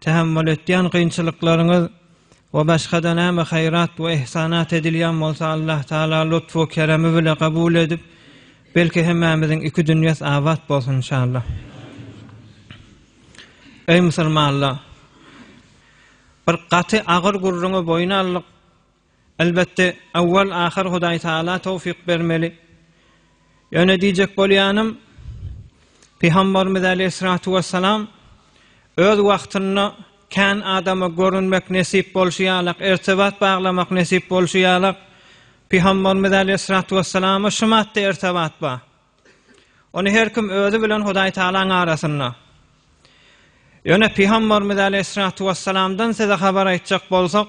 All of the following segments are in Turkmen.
Tähemmül etýän kynçylyklaryňyz we başga-da näme haýrat we ihsanat edilýän bolsa Allah Taala lutf we keremi bile kabul edip, belki hemmämiziň iki dünýäs abat bolsun inşallah. Eý musulmanlar! Bir gaty agyr gürrüňi boýun aldyk. Elbetde, awwal-ahyr Hudaý Tagala towfyk bermeli. Ýöne diýjek bolýanym, Pygambarymyz äleyhissalatu wessalam öz wagtynda kän adama görünmek nesip bolşy ýalak, irtibat baglamak nesip bolşy ýalak, Pygambarymyz äleyhissalatu wessalam-a şu maddy irtibat bar. Ony her kim özi bilen Hudaý Tagalaň arasynda. Ýöne Pygambarymyz äleyhissalatu wessalamdan size habar aýtjak bolsak,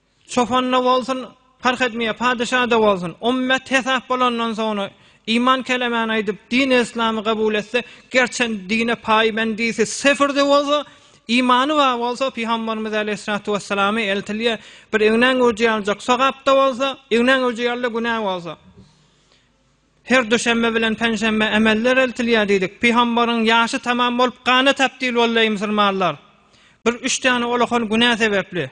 Çopanda bolsun, parh etmeýär, padyşada bolsun, ümmet hesap bolandan soňra, iman kelemäni aýdyp, dini-yslamy kabul etse, gerçe dine paýbendisi sifirde bolsa, imany bar bolsa, pygamberimiz aleýhissalatu wessalama eltilýär, bir egnaň göwji ýaljak sogap-da bolsa, egnaň göwji ýaly-da günä bolsa. Her duşenbe bilen penşenbe emeller eltilýär diýdik. Pygamberiň ýaşy tamam bolup, gana tabdil boldy, eý musulmanlar! Bir üç däne olahan günä sebepli.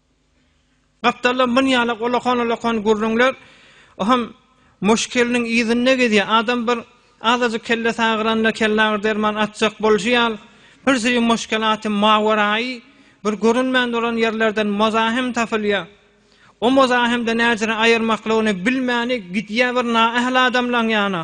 Gapdalda myn ýaly golakan-olakan gürrüňler, o hem muşkeliniň yzynda gezýär. Adam bir azajyk kellesi agyranda kellagyr derman atjak bolşy ýaly, birsüri muşkel aty mawerai bir görünmän duran ýerlerden mozahim tapylýar. O mozahimde näjere aýyrmaklygyny bilmäni gidýär bir naähli adamlaň ýana.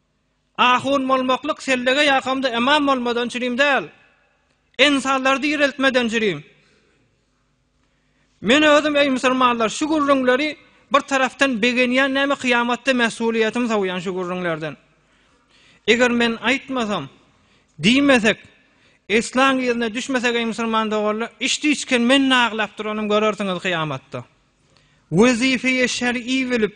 Ahun bolmaklyk sellege ýakamda imam bolmadan çürim däl. Ensarlary direltmeden çürim. Men özüm eý musulmanlar şu gürrüňleri bir tarapdan begenýän näme kyýamatda mesulyýetim sowýan şu gürrüňlerden. Eger men aýtmasam, diýmesek, eslaň yzyna düşmesek eý musulman doganlar, içdiçken men naglap duranym görersiňiz kyýamatda. Wezife-i şer'i bilip,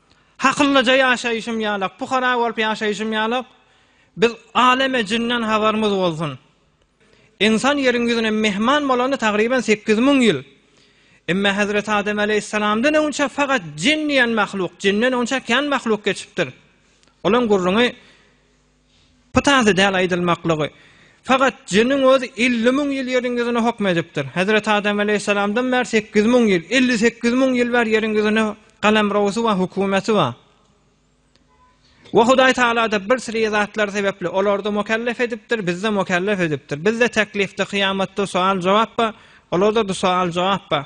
Hakyllaja ýaşaýşym ýalak, pukara bolup ýaşaýşym ýalak, biz aleme jinden habarymyz bolsun. Ynsan ýeriň ýüzüne myhman bolanda tagryban sekiz müň ýyl. Emma Hezreti Adem aleýhissalamdan öňçe fakat jin diýen mahluk, jinden öňçe kän mahluk geçipdir. Olaň gürrüňi Bu täze däl aýdylmaklygy. Fakat jiniň özi elli müň ýyl ýeriň ýüzüne hokm edipdir. Hezreti Adam aleýhissalamdan bäri sekiz müň ýyl, elli sekiz müň ýyl bäri ýeriň ýüzüne galemrowsy bar, hökümeti bar. We Hudaý Tagalada bir siri zatlar sebepli olarda mukellef edipdir, bizde mukellef edipdir. Bizde teklifde, kyýamatda sual-jogap bar, olarda-da sual-jogap bar.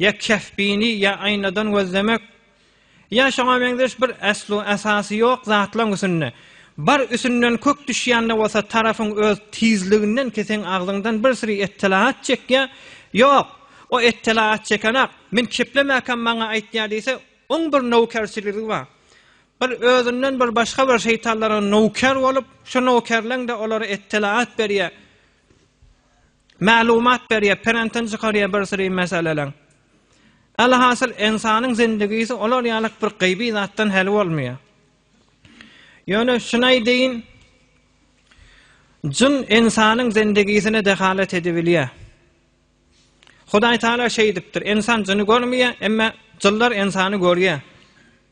Ýa Kehfini ýa Aýnadan gözlemek, ýa şoňa meňzeş bir eslu esasy ýok zatlaň üsünde, bar üsünden kök düşýände bolsa tarapyň öz tizliginden ki seň agzyňdan bir siri ettelaat çekýä, ýok, o ettelaat çekenak, men keplemäkäm maňa aýtýa diýse, oň bir nowkerçiligi bar. Bir özünden bir başga bir şeýtanlara nowker bolup, şu nowkerleň-de olara ettelaat berýä. Maglumat berýär, prentden çykarýar bir syry meseleleň. Alhasyl ynsanyň zindigisi olar ýaly bir gyýby zatdan hali bolmaýar. Ýöne şuny aýdaýyn, jyn ynsanyň zindigisine dehalat edibilýär. Hudaý Taala şeýdipdir, ynsan jyny görmeýär, emma jynlar ynsany görýär.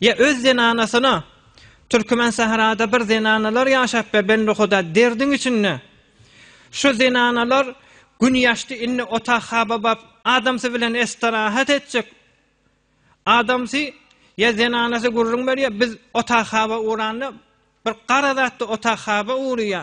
Ýa öz zenanasyna, Türkmen sährada bir zenanalar ýaşap be benduhuda derdiň içinde. Şu zenanalar gün ýaşdy indi otag hababap adamsy bilen estirahat etjek. Adamsy ýa zenanasy gürrüň berýär biz otag haba uranda bir gara zatdy otag haba uryýa.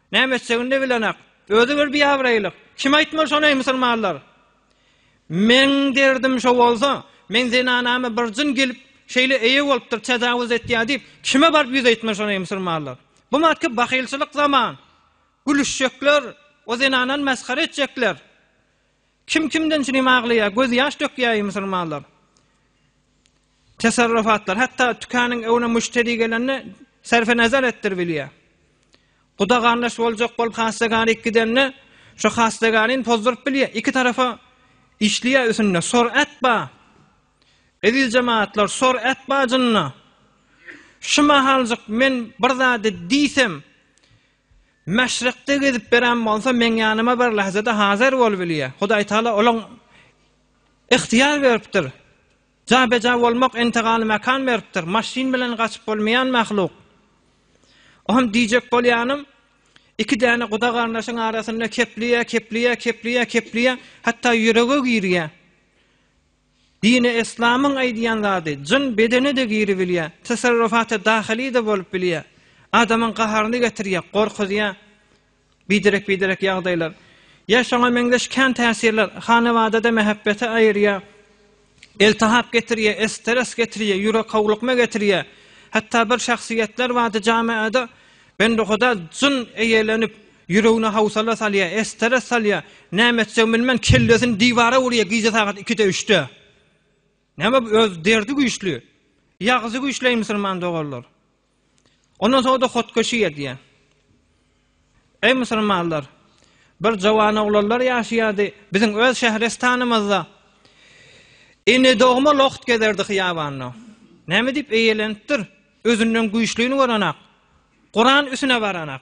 Näme etjegini-de bilenak. Özi bir biabraýlyk. Kim aýtmaly şony, eý, musulmanlar? Meň derdim şo bolsa, meň zenanama bir jyn gelip, şeýle eýe bolupdyr, täjawuz etýär diýip, kime baryp ýüz aýtmaly şony, eý, musulmanlar? Bu matky bahylçylyk zaman. Gülüşjekler, o zenanany mesgere etjekler. Kim kimden çürim aglaýa, göz ýaş dökýä eý musulmanlar. Tesarrufatlar, hatda tükanyň öwne müşteri gelende serfe nazar etdir bilýä. Guda garnaş boljak bolup hassa garik gidende şu hassa garin pozdurup bilýä. Iki tarafa işliýä üsünde sor et ba. Eziz jemaatlar sor et bajynda. Şu mahaljyk men bir zady diýsem, Maşrykda gezip beren bolsa, meň ýanyma bir lahzada hazir bolup bilýär. Hudaýtagala olaň ygtyýar beripdir. Jabeja bolmak entegaly mekan beripdir. Maşyn bilen gaçyp bolmaýan mahluk. Oňam diýjek bolýanym, iki däne guda-garyndaşyň arasynda kepliýär, kepliýär, kepliýär, kepliýär, hatda ýürege girýär. Dini eslamyň aýdýan zady, jyn bedene-de giribilýä, tesarrufaty dahyly-da bolup bilýä, adamyň gaharyny getirýä, gorkuzýa, biderek-biderek ýagdaýlar. Ýa şoňa meňzeş kän täsirler, hanabada-da mähebbeti aýyrýa, eltihap getirýä, esteres getirýä, ýürek howlukma getirýä, hatda bir şahsyýetler bardy jamaada bendehuda jyn eýelenip, Ýüregine howsala salýar, estere salýar. Näme etjegini bilmän, kellesini diwara urýar gije sagat ikide-üçde. Näme bu öz derdi güýçli. Ýagzy güýçli eý musulman doganlar. Ondan soňra-da hotkeşi edýär. Eý musulmanlar, bir jowan oglanlar ýaşaýardy biziň öz şährestanymyzda. Ene dogma logt gezerdi hyýabanda. Näme diýip eýelenipdir? Özünden güýçlini görenak. Guran üsüne baranak.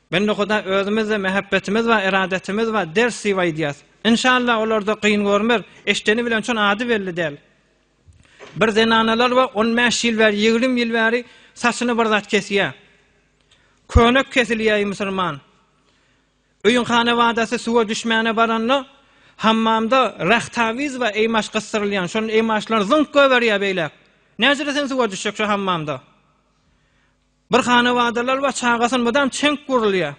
Bende Huda özümizde mähäbbetimiz bar eradetimiz bar ders diýip aýdýas. Inşallah olarda gyn görmez. Eşdeni bilen şon ady belli däl. Bir zenanalar bar on bäş ýyl bäri ýigrim ýyl bäri saçyny bir zat kesýä. Könek kesilýäi musulman. Öýüň hanabadasy suwa düşmäne baranda hammamda rahtawiz bar eýmaş gysdyrylýan şon eýmaşlar zyňk göberýä beýläk. Näjire sen suwa düşjek şo hammamda. Bir hanawadalar bar, çagasyn mydam çenk gurulýar.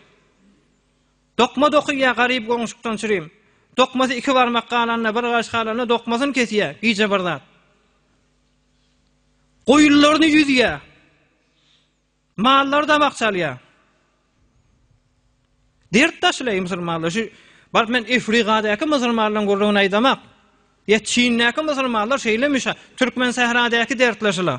Dokma dokýar garyp goňşukdan çürüm. Dokmasy iki barmak galanda, bir gaş galanda dokmasyny kesýär, gije bir zat. Goýunlaryny ýüzýär. Mallary damak çalýar. Dert daşlaýy musulmanlar. Şu bar men Efrigadäki musulmanlaryň gurrugyny aýdamak. Ýa Çindäki musulmanlar şeýle müşa, türkmen sähradäki dertleşiler.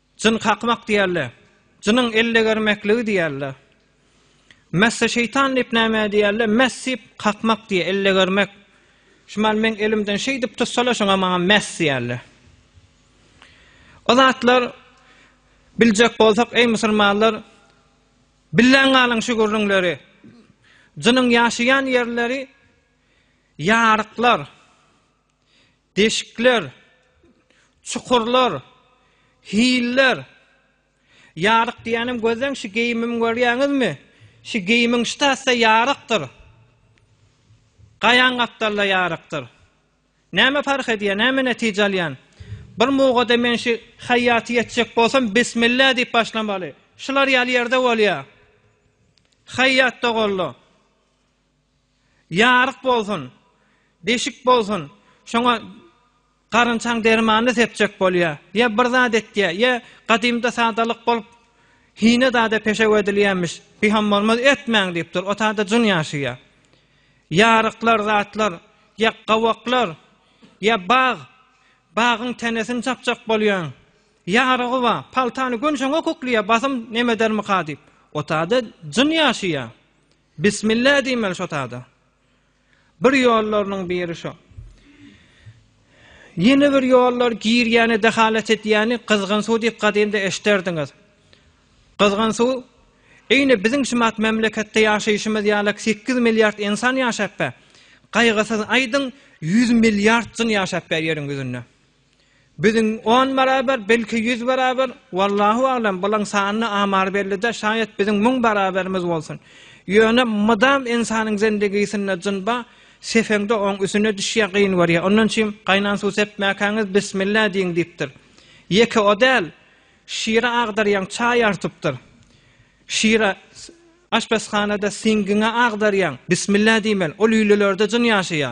Jyn kakmak diýerler. Jynyň ellegermekligi diýerler. Messe şeýtan diýip nämä diýerler? Mess diýip kakmak diýer, ellegermek. Şumal meň elimden şeýdip tutsalar, şoňa maňa mess diýerler. O zatlar biljek bolsak, eý musulmanlar, billäň galyň şu gürrüňleri. Jynyň ýaşaýan ýerleri ýaryklar. Deşikler, çukurlar, hiller. Ýaryk diýýänem gözleň şu geýimimi görýäňizmi? Şu geýimiň ştasa ýarykdyr. Gaýaň gapdalda ýarykdyr. Näme parh edýär, näme netije alýan? Bir mugada men şu haýýaty ýetjek bolsam, bismillah diýip başlamaly. Şular ýaly ýerde bolýar. Haýýat doganlar. Ýaryk bolsun, deşik bolsun, şoňa garynçaň dermanyny sepjek bolýar. Ýa bir zat etýär, ýa gadymda sadalyk bolup, hine zada peşew edilýänmiş. Bihem bolmaz, etmäň diýipdir. Otagda jyn ýaşaýar. Ýaryklar, zatlar, ýa gawaklar, ýa bag. Bagyň tenesini çapjak bolýaň. Ýarygy bar, paltany gün şoňa kükleýär, basym neme edermika diýip. Otagda jyn ýaşaýar. Bismillah diýmeli şo tada. Bir ýollarynyň biri şo. Ýene bir ýollar girýäni, dehalat edýäni gyzgyn suw diýip gadymda eşiderdiňiz. Gyzgyn suw Eýne biziň şumat memleketde ýaşaýşymyz ýalak 8 milliard ensan ýaşapbe. Gaýgysyz aýdyň 100 milliard jyn ýaşapbe ýeriň ýüzünde. Biziň on barabar, belki ýüz barabar, wallahu alam, bulaň sanyny amary bellidä, şaýat biziň müň barabarymyz bolsun. Ýöne mydam ynsanyň zendegisinde jyn ba, seseňde oň üsüne düşýä, gyn görýä. Ondan üçin gaýnan suw sepmäkäňiz bismillah diýiň diýipdir. Ýeke o däl, şira agdarýaň, çaý artypdyr. Şira aşpezhanada siňgiňe agdarýaň, bismillah diýmeli. O lülelerde jyn ýaşaýa.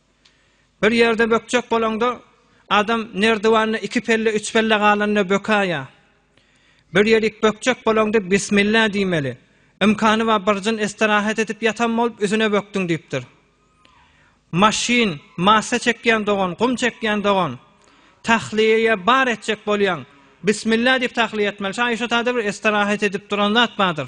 Bir ýerde bökjek bolaňda, adam nerdiwanda iki pelle, üç pelle galanda bökäýýä. Bir ýerik bökjek bolaňda bismillah diýmeli. Ymkany bar birjin estirahat edip ýatan bolup üzüne bökdüň diýipdir. Maşyn, massa çekýän dogan, gum çekýän dogan, tahliýeýe bar etjek bolýaň, bismillah diýip tahliýe etmeli. Şa Aýşa tada bir estirahat edip duran zat bardyr.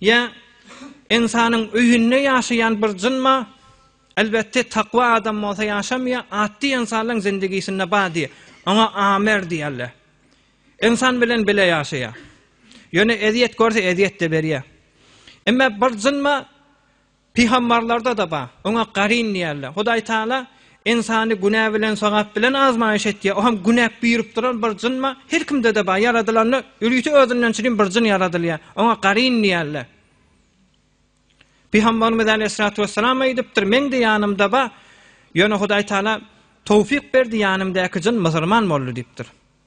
Ýa ynsanyň öýünde ýaşaýan bir jynma, elbetde takwa adam bolsa ýaşamaýar, atdy ynsanlaň zindigisinde bar diýär. Oňa amer diýerler. Ynsan bilen bile ýaşaýar. Ýöne ezýet görse ezýet-de berýär. Emma bir jynma Pygambarlarda-da bar. Oňa Garin diýerler. Hudaý Tagala ynsany günä bilen, sogap bilen azmaýyş etýär. O hem günä buýrup duran bir jyn bar. Her kimde-de bar. Ýaradylanda ölüsi özünden çirin bir jyn ýaradylýar. Oňa Garin diýerler. Pygambarymyz aleýhissalatu wessalam aýdypdyr, Meň-de ýanymda bar. Ýöne Hudaý Tagala towfyk berdi, ýanymdaky jyn musulman boldy diýipdir.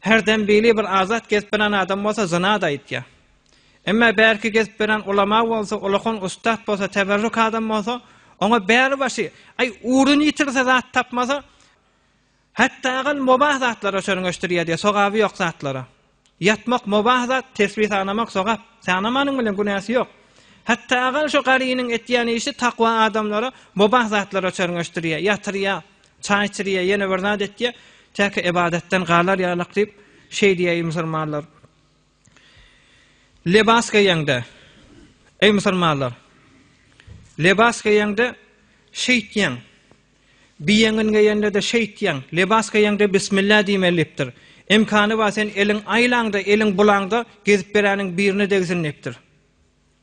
Her dem bili bir azat gezip beren adam bolsa zynat aýtýa. Emma bärki gezip beren ulama bolsa, ulakan ussat bolsa, teberruk adam bolsa, oňa bäri başy, aý uruny ýitirse zat tapmasa, hatdagal mubah zatlara çörňeşdirýä diýe, sogaby ýok zatlara. Ýatmak mubah zat, tesbi sanamak sogap. Sanamanyň bilen günäsi ýok. Hatdagal şu garynyň etýän işi takwa adamlara mubah zatlara çörňeşdirýä, ýatyrýa, Çaý içirýär, ýene bir zat etýär. Täki ybadatdan galar ýalak diýip, şeý diýýär, eý musulmanlar! Lebas geýeňde, eý musulmanlar! Lebas geýeňde şeýtýäň. Biýeňin geýende-de şeýtýäň. Lebas geýeňde bismillah diýmeli diýipdir. Imkany bar, sen eliň aýlaňda, eliň bulaňda gezip beräniň birine degsin diýipdir.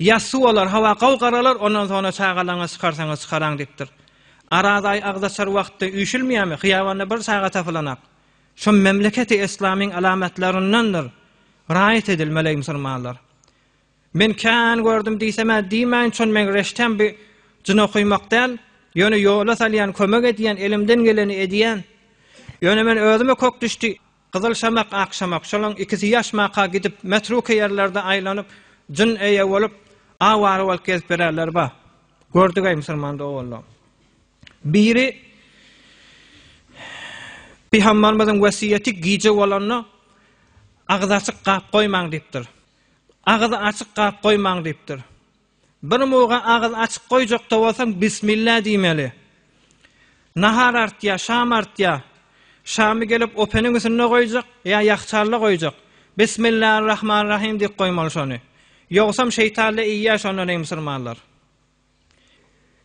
Ýassu olar, Hawa, gowy garalar, ondan soňra çagalaryňyzy çykarsaňyz çykaraň diýipdir. Araz aýy agzaçar wagtda üýşülmeýärmi, hyýabanda bir çaga tapylanak. Şu memleketi yslamyň alamatlaryndandyr, raýat edilmeli-eý musulmanlar. Men kän gördüm diýsem-ä diýmäýin, çün meň reştem bi jyn okymak däl, ýöne ýola salýan, kömek edýän, elimden geleni edýän. Ýöne men özüme kök düşdi. Gyzyl şamak, ak şamak, şolaryň ikisi ýaşmaka gidip, metruky ýerlerde aýlanyp, jyn eýe bolup, awara bolup gezip ýörerler, ba, gördüg-eý, musulman doganlar. Biri Pygambarymyzyň wesýeti gije bolanda, Agyzy açyk gap goýmaň diýipdir. Agyzy açyk gap goýmaň diýipdir. Bir muga agyz açyp goýjakda bolsaň bismilla diýmeli. Nahar artýar, şam artýar. Şamy gelip openiň üstünde goýjak ýa ýahçalla goýjak. Bismillarrahmanrahym diýip goýmaly şony. Ýogsam şeýtalla iýýär şondan eý musurmanlar.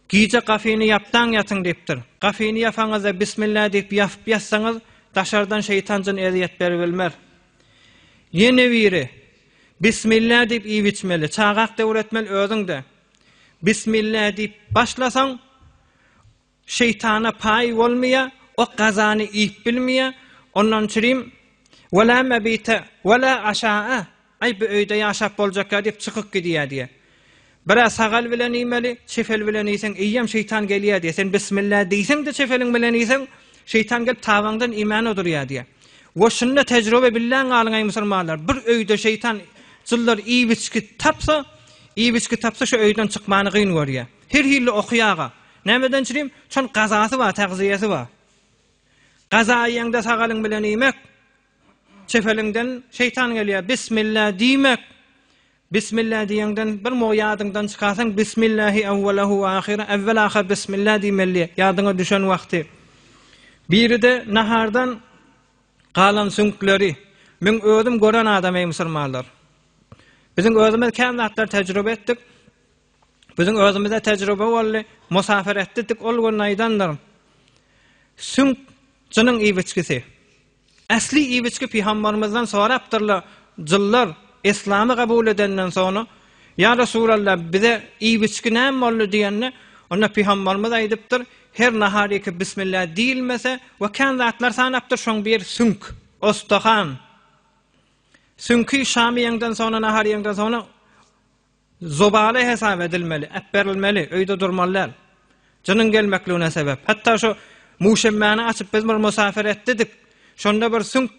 Gije gafyny ýapdaň ýatyň diýipdir. Gafyny ýapaňyzda Bismillah diýip ýapyp ýatsaňyz, daşardan şeýtan-jyn ezýet beribilmez. Ýene biri, Bismillah diýip iýip içmeli. Çagak döwür etmeli özüň-de. Bismillah diýip başlasaň, şeýtana paýy bolmaýar, o gazany iýip bilmeýär. Ondan çürim, Wala mebite, wala aşaa, Aý, bu öýde ýaşap boljakka diýip çykyk gidýä diýä. Bir-ä sagal bilen iýmeli, çefel bilen iýseň, iýýäm şeýtan gelýä diýä. Sen bismillah diýseň-de çefeliň bilen iýseň, şeýtan gelip tabaňdan iýmän odurýa diýä. We şunda tejrübe billäň galyň aý musulmanlar, bir öýde şeýtan jynlar iýip-içki tapsa, iýip-içki tapsa şu öýden çykmany gyn görýä. Her hilli okýaga. Nämeden çirim? Şon gazasy bar, tagzyýesi bar. Gaza iýeňde sagalyň bilen iýmek, Çefeliňden şeýtan gelýär. Bismilla diýmek. Bismilla diýeňden bir mugu ýadyňdan çykarsaň, Bismillahi awwalahu we ahyra, äwwel ahyr bismilla diýmeli, ýadyňa düşen wagty. Biri-de nahardan galan süňkleri. Men özüm gören adam eý musulmanlar. Biziň özümiz kän zatlar tejribe etdik. Biziň özümizde tejribe boldy. Musafir etdik, ol gün aýdanlarym. Süňk jynyň iýbiçgisi. Ähli ibiçgi Pygambarymyzdan sorapdyrlar, Jynlar Yslamy gabul edenden soňra, Ýa Resulalla, bize ibiçgi näme boldy diýende, onda Pygambarymyz aýdypdyr, Her naharyka Bismilla diýilmese we kän zatlar sanapdyr, şoň biri süňk, ostahan. Süňki şamy ýeňden soňra, nahary ýeňden soňra, Zobaly hesap edilmeli, äpberilmeli, öýde durmaly däl. Jynyň gelmekligine sebäp. Hatda şu Muşemmäni açyp biz bir musafir etdidik. Şonda bir süňk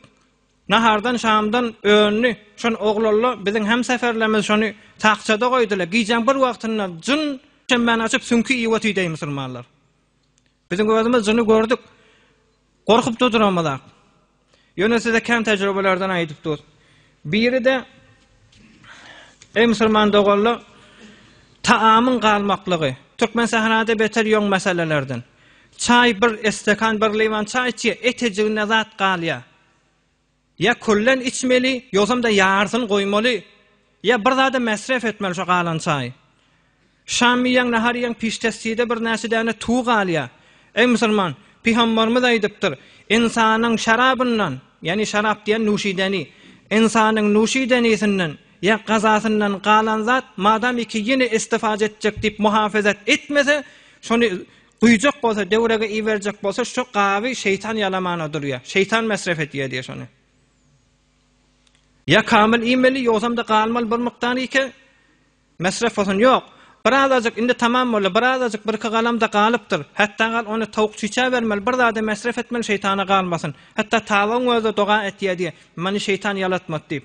nahardan, şamdan öndi. Şon oglalla biziň hemseferlerimiz şony takçada goýdylar. Gijäň bir wagtynda jyn Muşemmäni açyp süňki iýip otyr deý musulmanlar. Biziň özümiz jyny gördük. Gorkup-da duramyzak. Ýöne size kän tejribelerden aýdyp dur. Biri-de, Eý musulman doganlar, taamyň galmaklygy, Türkmensährada beter ýoň meselelerden. Çaý bir estekan, bir liwan çaý içýär, etejiginde zat galýar. Ýa küllen içmeli, ýogsam-da ýarysyny goýmaly, ýa bir zada mäsref etmeli şo galan çaýy. Şam iýýäň, nahar iýýäň, piştestide birnäçe däne tuw galýar. Eý musulman, pygambarymyz aýdypdyr, Ynsanyň şarabyndan, ýagny şarap diýen nuşideni, ynsanyň nuşidenisinden ýa gazasyndan galan zat madamyki ýene istifade etjek diýip muhafazat etmese, şony Guýjak bolsa döwrege iberjek bolsa şo gaby şeýtan ýalamana durýa. Şeýtan mesref etýä diýe şony. Ýa kamyl iýmeli ýogsam-da galmaly bir mukdar iýke mesref bolsun. Ýok. Bir azajyk indi tamam boldy. Bir azajyk birki galamda galypdyr. Hatda gal ony towuk çüýçä bermeli. Bir zada mesref etmeli şeýtana galmasyn. Hatda tawygyň özi-de doga etýä diýe. Meni şeýtan ýalatmady diýip.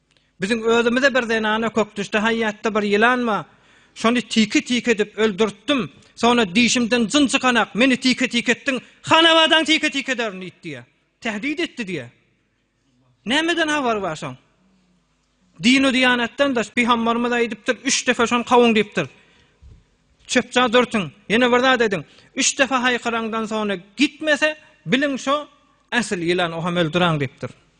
Biziň özümize bir zenana kökdüşde haýýatda bir ýylan bar. Şony tike-tike edip öldürtdim. Soňra dişimden jyn çykanak, meni tike-tike etdiň, hanabadaňy tike-tike ederin diýdi diýýär. Tähdit etdi diýýär. Nämeden habary bar şoň? Dinu diýanatdan daş pygambarymyz aýdypdyr, üç defe şony kawuň diýipdir. Çöpçä dürtüň. Ýene bir zat ediň. Üç defe haýkyraňdan soňra gitmese, biliň şo äsl ýylan, o hem öldüräň diýipdir.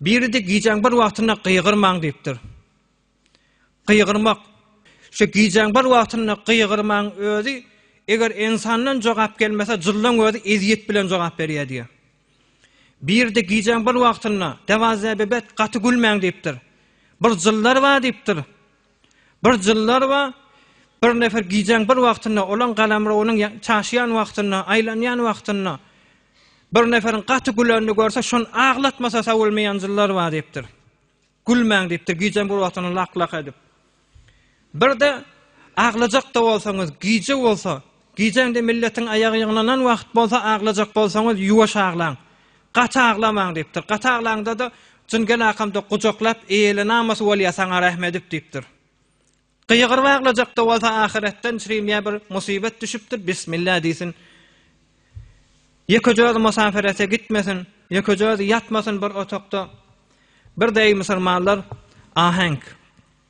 Biri-de gijäň bir wagtynda gygyrmaň diýipdir. Gygyrmak. Şu gijäň bir wagtynda gygyrmaň özi eger ensandan jogap gelmese jyllaň özi ezýet bilen jogap berýär diýär. Biri-de gijäň bir wagtynda dewazäbebet gaty gülmäň diýipdir. Bir jyllar bar diýipdir. Bir jyllar bar, bir nefer gijäň bir wagtynda, olaň galamrowynyň çaşýan wagtynda, aýlanýan wagtynda, bir neferiň gaty gülenini görse, şony aglatmasa sowulmaýan jyllar bar diýipdir. Gülmäň diýipdir, gijäň bir wagtynda lak-lak edip. Bir-de aglajakda bolsaňyz, gije bolsa, Gijäň-de milletiň aýagy ýygnanan wagt bolsa aglajak bolsaňyz, ýuwaş aglaň. Gaty aglamaň diýipdir. Gaty aglaňda-da, jyn gelakamda gujaklap, eýle namys bolýa saňa rähm edip diýipdir. Gygyryp aglajakda bolsa ahyretden çrimýä bir musibat düşüpdir, bismillah diýsin. Ýekeje özi musapirete gitmesin, ýekeje özi ýatmasyn bir otagda. Bir deý musulmanlar aheňk.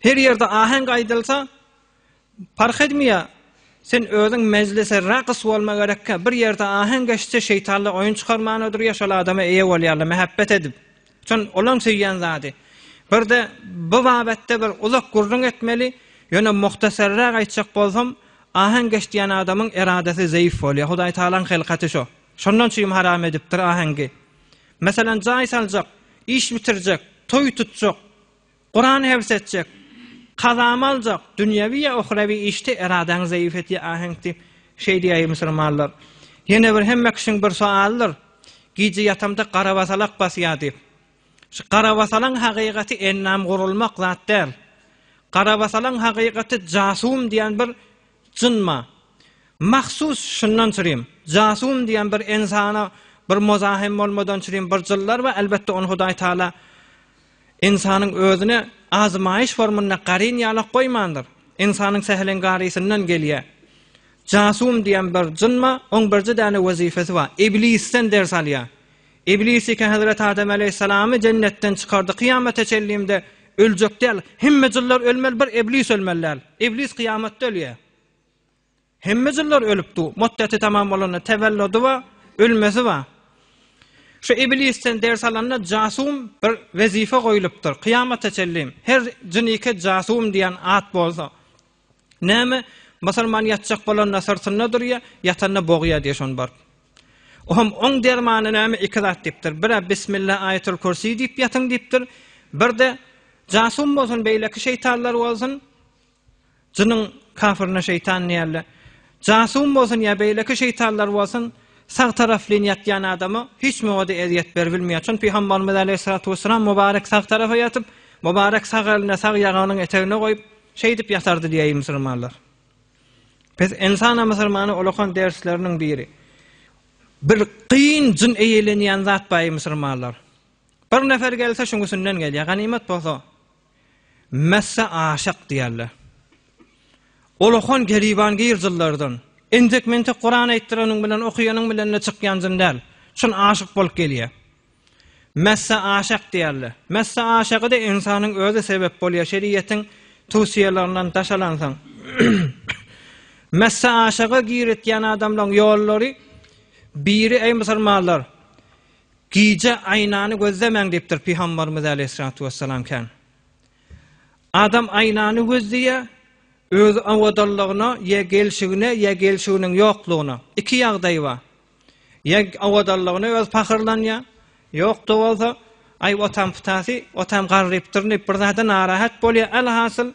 Her ýerde aheň aýdylsa, Parhedmiýa, sen özüň mejlise ragys bolma gerekkä, bir ýerde aheň geçse şeýtanlar oýun çykarman oturýar, şol adama eýe bolýarlar mähebbet edip. Çyn olaň söýýän zady. Birde bu babatda bir uzak gürrüň etmeli, ýöne muhtasarrak aýtjak bolsam, aheň geç diýen adamyň eradasy zeýif bolýar. Hudaýtagalaň hylkaty şo. Şondan çüým haram edipdir aheňgi. Meselem, jaý saljak, iş bitirjek, toý tutjak, Kuran hevis etjek, kazamy aljak, dünýewi ýa ohrewi işde eradäňi zeýif etýär aheňk diýip, şeý diýäýi musulmanlar. Ýene bir hemme kişiň bir soalydyr, Gije ýatamda garabasalak basýar diýip. Şu garabasalaň hakykaty ennam gurulmak zat däl. Garabasalaň hakykaty jasum diýen bir Jynma. Mahsus şundan çyrim. Jasum diýen bir ynsana bir mozahym bolmadan çyrim bir jyllar we elbetde ony Hudaý Taala ynsanyň özüne azmaýyş formynda garyn ýalak goýmandyr. Ynsanyň säheliň garysyndan gelýä. Jasum diýen bir jynma oň birje däne wezifesi bar. Iblisden ders alýa. Iblis iki hezreti Adam aleýhissalamy jennetden çykardy, kyýamata çenlinde öljek däl, hemme jynlar ölmeli bir iblis ölmeli däl. Iblis kyýamatda ölýär. Hemme jynlar ölüp du, motdeti tamam bolanda tewelludi bar, ölmesi bar. Şu iblisden ders alanda jasum bir wezife goýlupdyr, kyýamata çenli her jynike jasum diýen at bolsa, Näme, musulman ýatjak bolanda syrtynda durýa, ýatanda bogýa diýe şony baryp. Oňam oň dermany näme iki zat diýipdir. Bir-ä Bismillah aýatul kürsi diýip ýatyň diýipdir. Bir-de jasum bolsun beýleki şeýtanlar bolsun. Jynyň kafiryna şeýtan diýerler. Jasum bolsun ýa beýleki şeýtanlar bolsun. Sag taraflyn ýatýan adama hiç mowada ezýet berbilmeýär. Çünki Pygamberimiz aleyhissalatu vesselam mubarek sag tarapa ýatyp, mubarek sag elini sag ýaganyň etegine goýup, Şeýdip ýatardy diýäýi musulmanlar. Pes ensana musulmana olakan dersleriniň biri. Bir gyn jyn eýelenýän zat baýy musulmanlar. Bir nefer gelse şuň üsünden gelýär. Ganymat bolsa messe aşak diýerler. Olakan geriban gyr jynlardan. Entek-mentek Kuran aýtdyranyň bilen, okaýanyň bilen-de çykýan jyn däl. Şun aşyk bolup gelýär. Messe aşak diýerler. Messe aşagy-da ynsanyň özi sebep bolýar, şeriýetiň towsiýelernden daşalansoň. Messe aşaga giritýän adamlaryň ýollary biri eý musulmanlar, gije aýnany gözlemäň diýipdir Pygambarymyz aleýhissalatu wessalam kän. Adam aýnany gözleýär, özi awadanlygyna ýa gelşigine ýa gelşiginiň ýoklugyna. Iki ýagdaý bar. Ýa owadanlygyna özi pahyrlanýar, ýok-da bolsa, Aý, otam pytasy, otam garrypdyryn diýip, bir zada narahat bolýar. Alhasyl,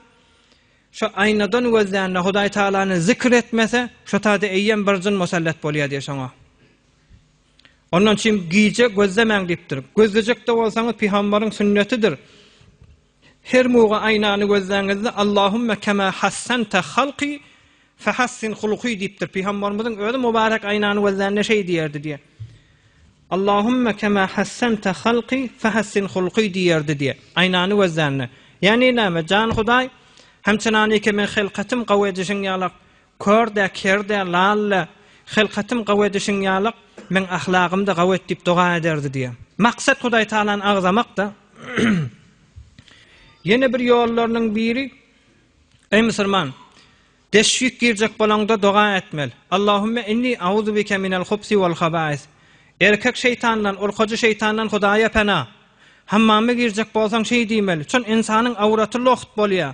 şo aýnadan gözlände Hudaý Tagalany zikr etmese, şo taýda eýýäm bir jyn musallat bolýar diýýär şoňa. Ondan üçin gije gözlemäň diýipdir. Gözlejek-de bolsaňyz, pygamberiň sünnetidir. Her muga aýnany gözläňizde Allahümme kema hassente halki fehassin huluki diýipdir. Pygambarymyzyň özi mubarek aýnany gözlände şeý diýerdi diýe. Allahümme kema hassente halki fehassin huluki diýerdi diýe. Aýnany gözlände. Ýani näme? Jan Hudaý hem çenanike men helkatym gawy edişiň ýalak Kör-dä, ker-dä, lal-la, hylkatym gawy edişiň ýalyk, meň ahlagym-da gawy et diýip doga ederdi diýýär. Maksat Hudaýtagalany agzamak-da. Ýene bir ýollarynyň biri, Eý musulman, deşwik girjek bolaňda doga etmeli. Allahümme inni auzu bike minel hubsi wal habais. Erkek şeýtandan, urkajy şeýtandan Hudaýa pena. Hammama girjek bolsaň şeý diýmeli. Çün ynsanyň awraty loht bolýar.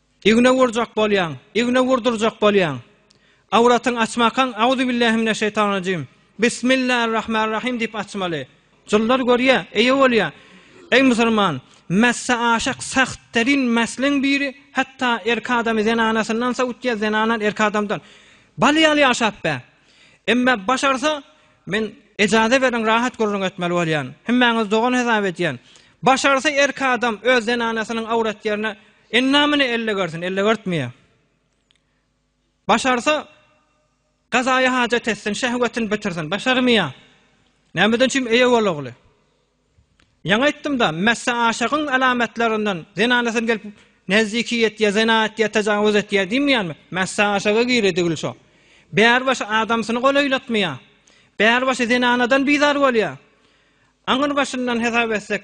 Igne urjak bolýaň, igne urdurjak bolýaň. Awratyňy açmakaň Auzubillahimineşşeýtanrajim, Bismillarrahmarrahim diýip açmaly. Jynlar görýär, eýe bolýar. Eý musulman, mässe aşak sähterrin mäsleň biri, hatda erki adamy zenanasyndan sowutýar, zenanan erki adamdan. Baly ýaly ýaşap ber. Emme başarsa, men ejaze beriň rahat gürrüň etmeli bolýan. Hemmäňizi dogan hesap edýän. Başarsa erki adam öz zenanasynyň awrat ýerine Endamyny ellegersin, ellegertmeýär. Başarsa, gazaýy hajat etsin, şehwetini bitirsin, başarmaýar. Nämeden üçin eýe bol ogly? Ýaňy aýtdym-da, messe aşygyň alamatlaryndan zenanasyn gelip nezdiki etýär, zena etýär, tajawuz etýär diýmeýärmi? Messe aşyga girýär degil şo. Bäri başy adamsyny golaýlatmaýar. Bäri başy zenanadan bizar bolýar. Aňyr başyndan hesap etsek,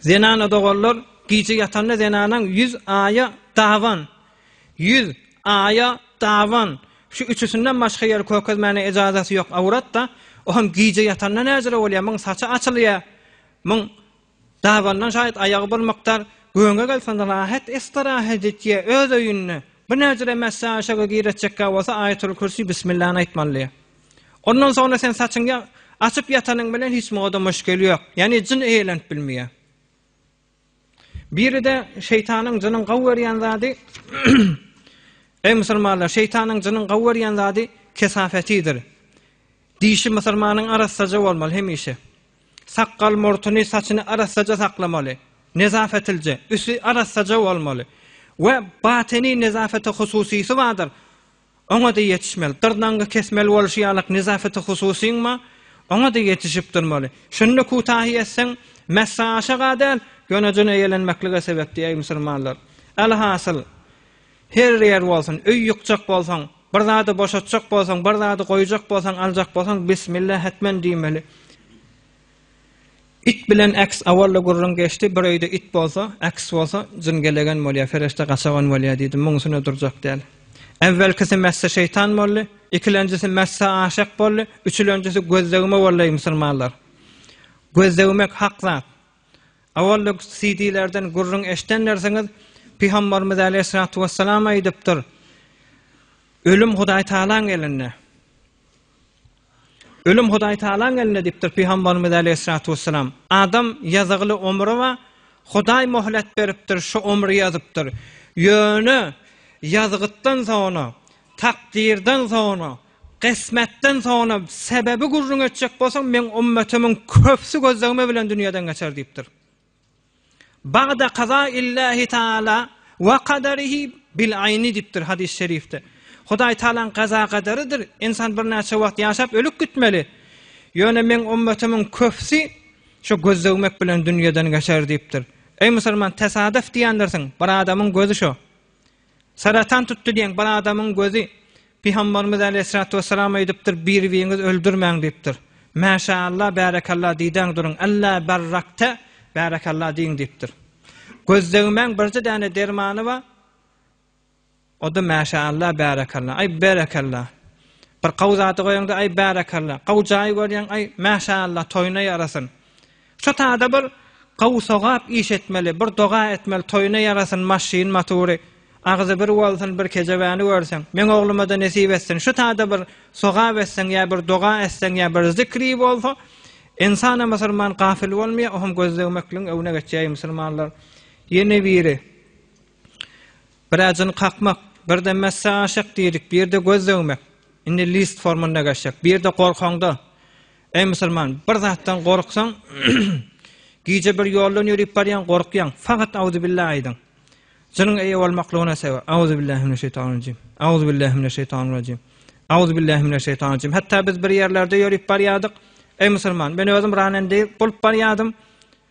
Zenana doganlar gije ýatanda zenanaň ýüz aýa daban, ýüz aýa daban, şu üçüsinden başga ýeri kökezmäne ejazaty ýok awratda, o hem gije ýatanda näjire bolýar, muň saçy açylýar, muň dabandan şaýat aýagy bir mukdar göňe gelsin rahat estirahat etýär öz öýünde, bu näjire mässäişege giretjekkä bolsa aýatul kürsi bismillany aýtmalydyr. Ondan soňra sen saçyňy açyp ýatanyň bilen hiç muňa-da müşgil ýok. Ýagny jyn eýelenip bilmeýär. Biri-de şeýtanyň jynyň gawy görýän zady Eý musulmanlar, şeýtanyň jynyň gawy görýän zady kesafetidir. Dişi musulmanyň arassaja bolmaly hemişe. Sakgal, murtuny, saçyny arassaja saklamaly. Nezafetilje, üsti arassaja bolmaly. We batyny nezafete hususysy bardyr. oňa-da ýetişmeli. Dyrnagyňy kesmeli bolşy ýalyk nezapeti hususyňmy, oňa-da ýetişip durmaly. Şunda kutahy etseň, mässa aşak-a däl, ýöne jyn eýelenmeklige sebäp diýäý musulmanlar. Alhasyl, her ýer bolsun, öý ýykjak bolsaň, bir zady boşatjak bolsaň, bir zady goýjak bolsaň, aljak bolsaň, Bismillah hetmen diýmeli. It bilen eks awalla gürrüň geçdi, bir öýde it bolsa, eks bolsa, jyn gelegen bolýar, perişde gaçagan bolýar diýdi, muňusyna durjak däl. Äwwelkisi mässe şeýtan boldy, ikilenjisi mässe aşyk boldy, üçülenjisi göz degme boldy, eý musulmanlar! Göz degmek hak zat. Awalla CD-lerden gürrüň eşidenlersiňiz, Pygambarymyz äleyhissalatu wessalam aýdypdyr, Ölüm Hudaýtagalaň elinde. Ölüm Hudaýtagalaň elinde diýipdir Pygambarymyz äleýhissalatu wessalam. Adam ýazygly omri bar, Hudaý möhlet beripdir, şu omri ýazypdyr. Ýöne ýazgytdan soňra, takdyrdan soňra, gysmatdan soňra sebebi gürrüň etjek bolsaň, meň ummetimiň köpsi gözlegme bilen dünýeden geçer diýipdir. Bagda kaza illahi taala we kaderihi bil ayni dipdir hadis şerifde. Hudaý Taalaň gaza gadarydyr. Insan birnäçe wagt ýaşap ölüp gitmeli. Ýöne meň ummatymiň köpsi şu göz döwmek bilen dünýeden geçer dipdir. Eý musulman tesaduf diýendirsiň, bir adamyň gözi şu. Saratan tutdy diýen bir adamyň gözi Pygambarymyz aleýhissalatu wessalam aýdypdyr, Bir-biriňizi öldürmäň diýipdir. Mäşäallah, bärekallah diýdäň duruň, Alla barrakta, bärekallah diýiň diýipdir. Göz degmäň birje däne dermany bar, o-da mäşäallah, bärekallah, aý berekallah. Bir gawy zady goýaňda, aý bärekallah, gawy jaýy görýäň, aý mäşäallah, toýuna ýarasyn. Şu taýda bir Gawy sogap iş etmeli, bir doga etmeli, toýuna ýarasyn maşyn matury, agzy bir bolsun bir kejebäni görseň, meň oglumada nesip etsin, şu taýda bir sogap etseň ýa bir doga etseň ýa bir zikri bolsa, insana musulman gafil bolmaýa, o hem gözlegmekligiň öwüne geçýäýi musulmanlar. Ýene biri. Bir äjini kakmak, birde messe aşak diýdik, birde göz döwmek. Indi list formunda geçjek. Birde gorkaňda, eý musulman, bir zatdan gorksaň, gije bir ýoldan ýörüp barýaň, gorkýaň, faqat Auzubillah aýdyň. Jynyň eýe bolmaklygyna sebäp. Auzubillahiminaşşeýtanirrajim. Auzubillahiminaşşeýtanirrajim. Auzubillahiminaşşeýtanirrajim. Hatda biz bir ýerlerde ýörüp barýardyk, eý musulman, men özüm ranen diýip bolup barýardym.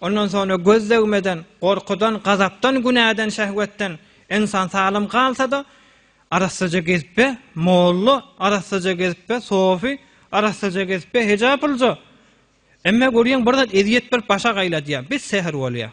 Ondan soňra göz degmeden, gorkudan, gazapdan, günäden, şehwetden ynsan salym galsa-da, arassaja gezip be, molla, arassaja gezip be, sofy, arassaja gezip be, hejaplyja. Emme görýäň, bir zat ezýet berip başa gaýladýar. Bis säher bolýar.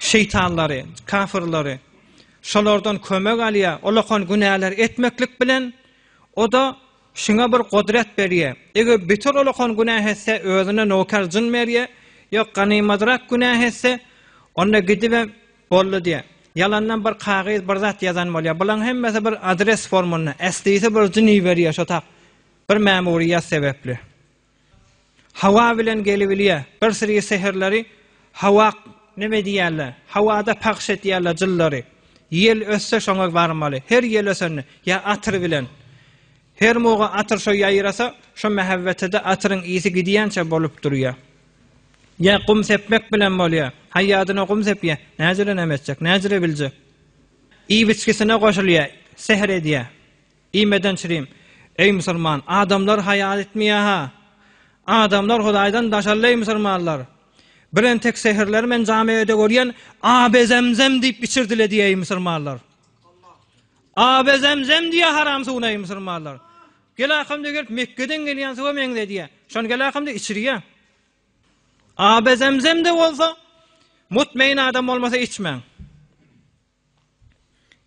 şeýtanlary, kafirleri, şolardan kömek alýar, olakan günäleri etmeklik bilen, o-da şuňa bir gudrat berýär. Eger beter olakan günä etse, özüne noker jyn berýär, ýok, ganymadrak günä etse, onda gidibem boldy diýär. Ýalandan bir kagyz, bir zat ýazan bolýar. Bularyň hemmesi bir adres formunda, eslisi bir jyn iberýär şo tak, bir mämuriýet sebäpli. Hawa bilen gelibilýä. Bir siri seherleri hawa neme diýýärler? Hawada pagş etýärler jyllary. Ýel össe şoňa barmaly. Her ýel ösende ýa atyr bilen. Her muga atyr şo ýaýrasa, şo mähebbetede atyryň ysy gidýänçä bolup durýa. Ýa gum sepmek bilen bolýa. Haýýadyna gum sepýä. Näjire neme etjek? Näjire biljek? Iýip-içgisine goşulýa. Sehr edýä. I Medençrim, Eý, musulman, adamlar haýa etmeýär-hä? Adamlar Hudaýdan daşaldy-eý, musulmanlar! Bir entek säherler men jamy öýde görýän, Abe Zemzem diýip içirdile diýýär-eý, musulmanlar! Abe Zemzem diýýär haram suwuna-eý, musulmanlar! Gel-akamda gelip Mekgeden gelýän suwa meňzedýär. Şony gel-akamda içirýär. Abe Zemzem-de bolsa, mutmaýn adam bolmasa içmäň.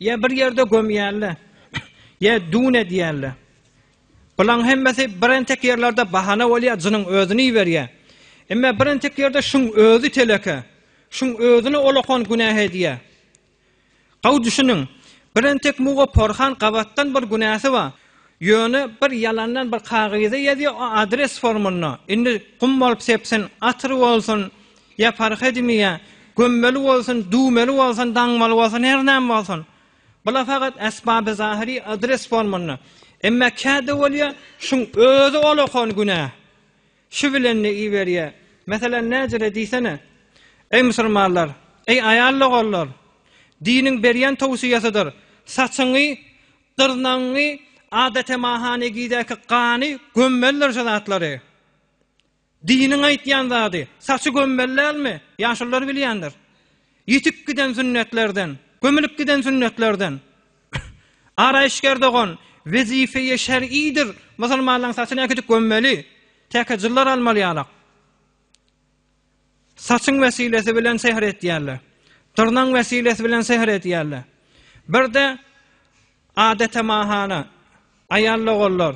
Ýa bir ýerde gömýärle, ýa dün edýärle. Bulaň hemmesi bir entek ýerlerde bahana bolýar, jynyň özüni iberýä. Emme bir entek ýerde şuň özi teleke, şuň özüni olakan günäh edýä. Gawy düşüniň, bir entek muga porhan gabatdan bir günäsi bar. Ýöne bir ýalandan bir kagyza ýazýa, o adres formunda, indi gum bolup sepsin, atyr bolsun, Ýa parh edimi ýa, gömmeli bolsun, düwmeli bolsun, daňmaly bolsun, her näme bolsun. Bular fakat esbaby zahyry adres formanda. Emma käde bolýa, şuň özi ol okan günä. Şu bilen ne iberýä. Meselem näjire diýsene. Eý musulmanlar, eý aýal logarlar, diniň berýän towsyýasydyr, saçyňy, dyrnagyňy, adatemaha negidäki gany gömmelidir şu zatlary. Diniň aýtýan zady, saçy gömmeli dälmi? Ýaşulylar bilýändir. Ýitip giden sünnetlerden, gömülip giden sünnetlerden. Araýyşger dogan, wezife-i şer'idir, musulmanlaryň saçyny äkidip gömmeli, täke jyllar almaly ýalak. Saçyň wesilesi bilen sehr etýärler. Dyrnagyň wesilesi bilen sehr edýärler. Bir-de adetemahana, aýal doganlar,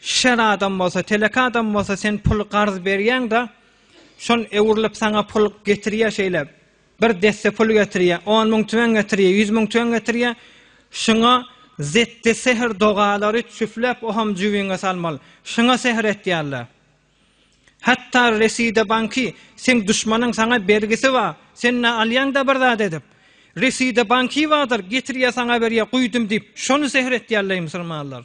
Şer adam bolsa, telek adam bolsa sen puly garz berýäň-de, şol öwrülip saňa pul getirýär şeýle, bir desse pul getirýär, on müň tüwen getirýär, ýüz müň tüwen getirýär, şuňa zetde sehr dogalary çüfläp oham jübiňe salmaly. Şuňa sehr etýärler. Hatda reside banky, seň duşmanyň saňa bergisi bar, sen ne alýaň-da bir zat edip, reside banky bardyr, getirýär saňa berýär, guýdum diýip, şony sehr etýärleý musulmanlar.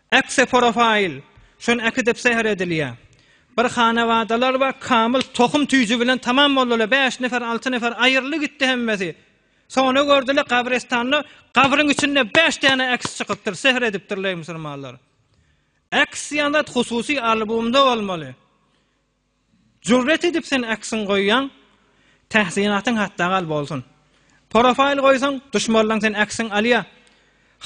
Eksi porofaýl, şony äkidip säher edilýär. Bir hanabadalar bar, kamyl tohum tüýji bilen tamam boldular, bäş nefer, alty nefer aýryldy gitdi hemmesi. Sona gördüler gabrestanda gabryň içinde bäş däne eks çykypdyr, säher edipdirler musulmanlar. Eks ýaňlat hususy albumda bolmaly. Jürret edip sen aksiň goýýaň, tahsinatyň hatda gal bolsun. Profaýl goýsaň, duşmarlaň sen aksiň alýa.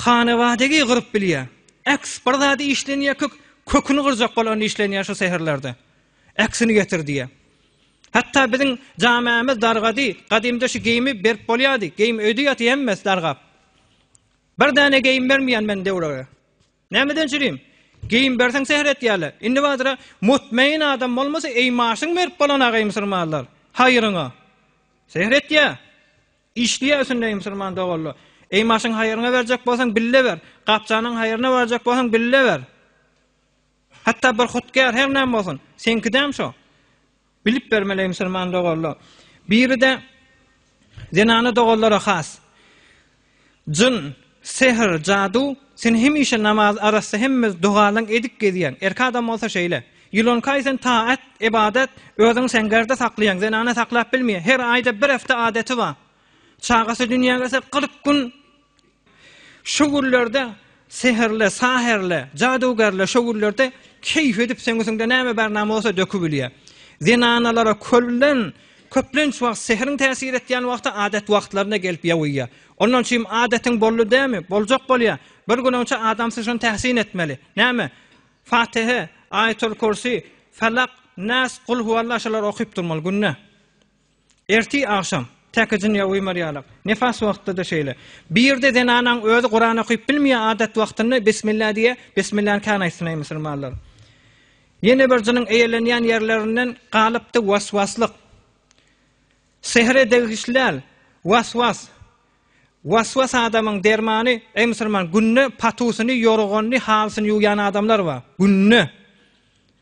Hanabadegi gyryp bilýä. Aks bir zady işlenýä kök, köküni gyrjak bolanda işlenýä şu säherlerde. Aksini getir diýä. Hatda biziň jamämiz dargady, gadymda şu geýimi berip bolýady, geýim öýde ýaty hemmesi dargap. Bir däne geýim bermýän men döwrege. Nämeden çürim? Geýim berseň säher etýärler. Indi badyra mutmaýyn adam bolmasa, eý maşyn berip bolanaga-eý musurmanlar. Haýryňa. Säher etýär. Işleýär üstünde-eý musurman doganlar. Eý maşyn haýryňa berjek bolsaň bille ber. Gapjanyň haýryna barjak bolsaň bille ber. Hatda bir hudkär her näme bolsun. Seňkidäm şo. Bilip bermeli musulman doganlar. Biri-de zenana doganlara has. Jyn, sehr, jadu, sen hemişe namaz arassa hemme dogalaň edip gezýäň. Erki adam bolsa şeýle. Ýylankaý sen taat, ybadat, özüň seňgerde saklaýaň, zenana saklap bilmeýä. Her aýda bir hefte adaty bar. Çagasy dünýä gelse kyrk gün Şo günlerde seherle, saherle, jadygärle şo günlerde keýp edip seňisinde näme bar name bolsa dökübilýär. Zenanalara kölden köplenç wagt seheriň täsir etýän wagty adat wagtlaryna gelip ýawyýar. Ondan çim adatyň boldy dämi, boljak bolýar. Bir günüňçe adam syşyny täsin etmeli. Näme? Fatihe, Aýatul Kursi, Felak, Nas, Gul huwalla şolary okyp durmaly günde. Ertir agşam, täkejin ýa uýmar ýalak, nifas wagtda-da şeýle. Bir ýerde zenanaň özi Kuran okyp bilmeýär, adat wagtynda Bismillah diýýär, Bismillah-ny kän aýtsyn-aý musulmanlar. Ýene bir jynyň eýelenýän ýerlerinden galypdy waswaslyk. Sehre degişli däl, waswas. Waswas adamyň dermany, eý musulman, günde patusyny, ýorganyny, halysyny ýuwýan adamlar bar. Günde.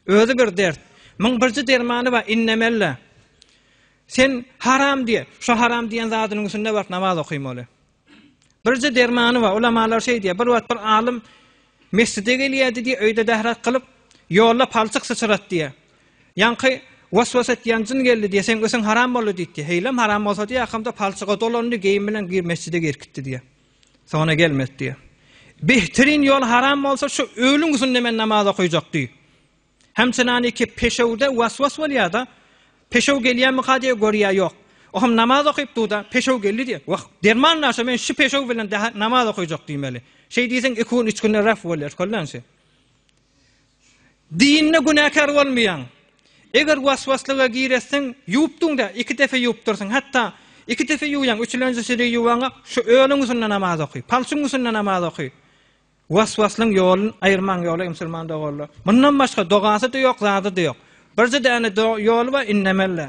Özi bir dert. Myň birji dermany bar, innemelle. Sen haram diýe. Şu haram diýen zadynyň üstünde baryp namaz okymaly. Birji dermany bar. Ulamalar şeý diýe. Bir wagt bir alym mesjide gelýärdi diýe, öýde dahrak kylyp, ýolda palçyk syçyrat diýe. Ýaňky waswas etýän jyn geldi diýe, seň ösüň haram boldy diýdi. Heýlem haram bolsa diýe, akamda palçyga dolandy, geýim bilen gir mesjide girip gitdi diýe. Sona gelmes diýe. Behtirin ýol haram bolsa şu öwlüň üsünde men namaz okaýjak diý. Hem çynani ki peşewde waswas bolýada. Peşew gelýämika diýe görýä ýok. Oham namaz okyp duda peşew geldi diýe. Wah derman naşa men şu peşew bilen daha namaz okaýjak diýmeli. Şeý diýseň iki gün üç günde ref bolýa şkoldan şe. Dinde günäkär bolmaýaň. Eger waswaslyga gireseň, ýuwup duň-da, iki depe ýuwup dursuň. Hatda iki depe ýuwýaň, üçülenjisini ýuwaňa şu ölüň üstünde namaz oky, palçyň üstünde namaz oky. Waswaslyň ýolun aýyrmaň ýoly, musulman doganlar. Mundan başga dogasy-da ýok, zady-da ýok. Birje däne ýoly bar, innemeli.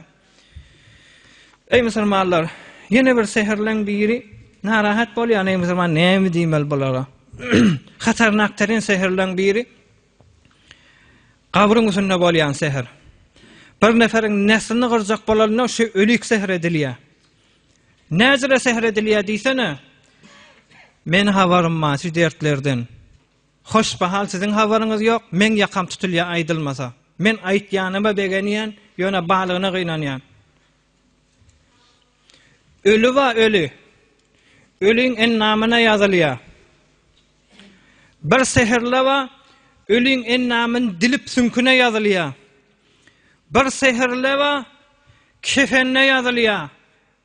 Eý musulmanlar! Ýene bir säherleň biri narahat bolýan, eý musulman, näme diýmeli bulara? Hatarnakteryn säherleň biri gabryň üstünde bolýan säher. Bir neferiň neslini gyrjak bolanda şu ölik säher edilýär. Näzire säher edilýär diýsene? Meni habarym bar şu dertlerden. Hoş bahal siziň habaryňyz ýok meň ýakam tutulýa aýdylmasa. Men aýtýanyma begenýän ýöne balygyna gynanýan. Öli ba öli. Öliň endamyna ýazylýa. Bir sehrla ba öliň endamyn dilip süňküne ýazylýa. Bir sehrle ba kefenne ýazylýa.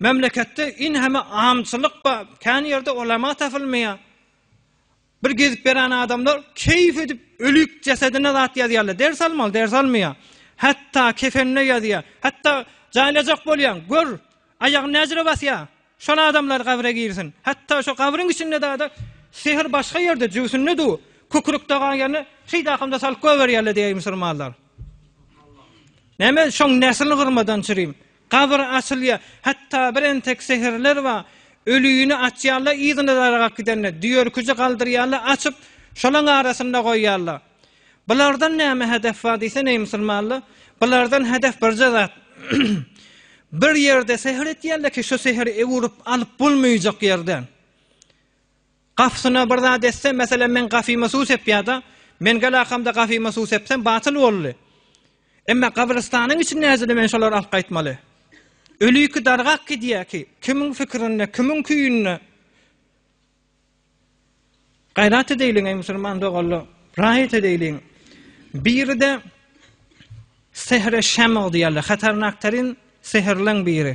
Memleketde in heme amçylyk ba, kän ýerde olama tapylmaýa. Bir gezip berän adamlar keýif edip ölüp jesedine zat ýazýarlar. Ders almaly, ders almaýa. Hatda kefenine ýazýa. Hatda jaýlajak bolýan, gör, aýagyny näjire basýa. Şol adamlar gabre girsin. Hatda şo gabryň içinde dada sehr başga ýerde, jüwsünde du, kükürük dagan ýerine şeýde akamda salyp goýberýärler diýýär musulmanlar. Näme şoň neslini gyrmadan çyrym. Gabyr açylýar. Hatda bir entek sehirler bar, ölini açýarlar, yzyna dargap gidende, düýerküji galdyrýarlar, açyp, şolaň arasynda goýýarlar. Bulardan näme hedef bar diýsen, eý musulmanlar, bulardan hedef birje zat, bir ýerde sehir etýärler ki, şu sehiri ewürip alyp bolmaýjak ýerden. Gafysyna bir zat etse, meselem, meň gafyma suw sepýär-de, men gel-akamda gafyma suw sepsem, batyl boldy. Emma gabrystanyň içinde äjele men şolary alyp gaýtmaly. Ölüki dargap gidýär ki, kimiň pikirinde, kimiň küýünde? Gaýrat edeýliň, eý musulman doganlar, raýat edeýliň. Biri-de sehre şemg diýýärler, hatarnaktarin sehrleň biri.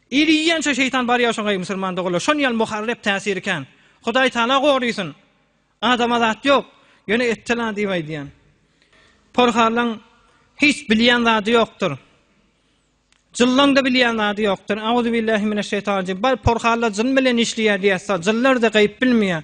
Iri iýen şo şeýtan bar ýa şoňaý musulman doganlar şon ýaly muharrep täsiri kän. Hudaý taala gorysyn. Adama zat ýok. Ýöne etdila diýip aýdýan. Porharlaň hiç bilýän zady ýokdur. Jyllaň da bilýän zady ýokdur. Auzubillahi mineşşeýtanirrajim. Bar porharlar jyn bilen işleýär diýýär. Jynlar da gaýyp bilmeýär.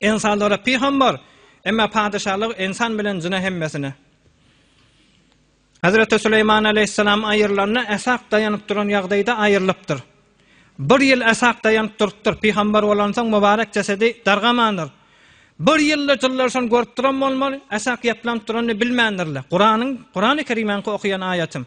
Ensanlara pyham bar, emma patyşalyk ensan bilen jyna hemmesine. Hazreti Süleýman aleýhissalam aýyrylanda äsak daýanyp duran ýagdaýda aýrylypdyr. Bir ýyl äsak daýanyp durupdyr, pyhambar bolansoň mubarek jesedi dargamandyr. Bir ýylda jyllaryşyny görüp duran bolmaly, äsak ýaplanyp duranyny bilmändirler. Kuranyň, Kurany Kerimäňki okaýan aýatym.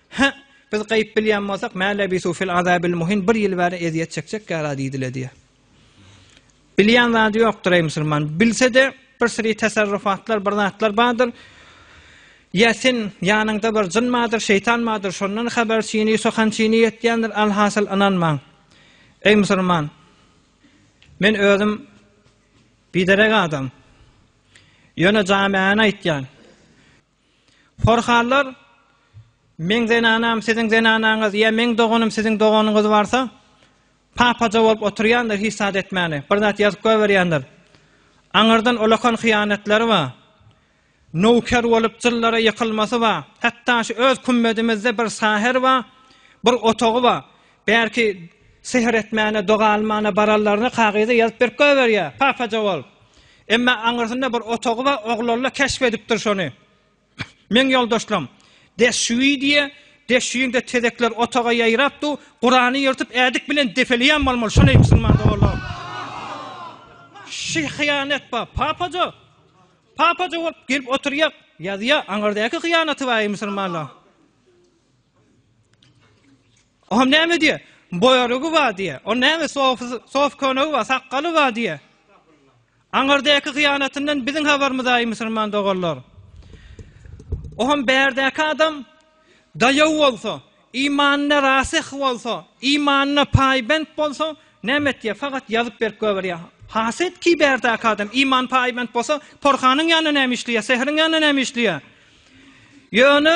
Hä, biz gaýyp bilýän bolsak, mä lebisu fil azabil muhin, bir ýyl bäri ezýet çekjekgär-ä diýdiler diýýär. Bilýän zady ýokdur, eý musulman. Bilse-de, bir syry tasarrufatlar, bir zatlar bardyr. Ýa sen ýanyňda bir jyn bardyr, şeýtan bardyr, şondan habar çyny, sokan çyny ýetýändir, alhasyl ynanmaň. Eý musulman, men özüm biderek adam. Ýöne jamiäni aýtýan. Porhallar, Meň zenanam, siziň zenanaňyz, ýa meň doganym, siziň doganyňyz barsa, papaja bolup oturýandyr, hiç zat etmäni, bir zat ýazyp goýberýändir. Aňyrdan ulakan hyýanatlary bar. Nowker bolup jyllara ýykylmasy bar. Hatda şu öz kümmedimizde bir saher bar, bir otagy bar. Bärki sihr etmäne, doga almana baranlaryny kagyza ýazyp berip goýberýä, papaja bolup. Emma aňyrsynda bir otagy we oglalla keşp edipdir şony. Meň ýoldaşlam, Deşşüwi diýä, Deşşüwiňde tezekler otaga ýaýrap du, Kurany ýyrtyp ädik bilen depeleýän bolmaly, şoneý musulman doganlarym. Şi hyýanet ba, papaja. Papaja bolup gelip oturýa, ýazýa, aňyrdäki hyýanaty baý musulmanlaň. Oňam näme diýýär? Boýarygy bar diýýär. O näme sof köne bar, sakgaly bar diýýär. Aňyrdäki hyýanatyndan biziň habarymyz aý musulman doganlar. Oňam bärdäki adam daýaw bolsa, imanyna rasyh bolsa, imanyna paýbent bolsa, näme etýär? Fakat ýazyp berip göberýär. Haset ki bärdäki adam iman paýbent bolsa, porhanyň ýanynda näme işleýär, sehriň ýanynda näme işleýär? Ýöne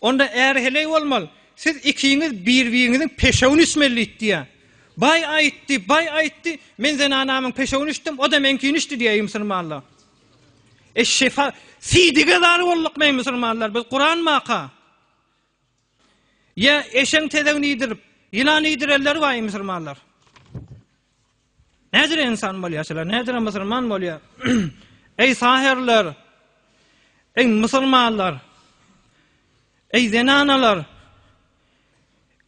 Onda äri heleý bolmaly. Siz ikiňiz bir-biriňiziň peşewini içmelidit diýýär. Baý aýtdy, baý aýtdy, men zenanamyň peşewini içdim, o-da meňkini içdi diýýär, eý musulmanlar. E şefa, sidige zar boldukmy eý musulmanlar, biz Kuran maka? Ýa eşeň tezegini iýdirip, ýylan iýdirenleri bar eý musulmanlar. Nädire ynsan bolýar şular, nädire musulman bolýar? Eý saherler! Eý musulmanlar! Eý zenanalar!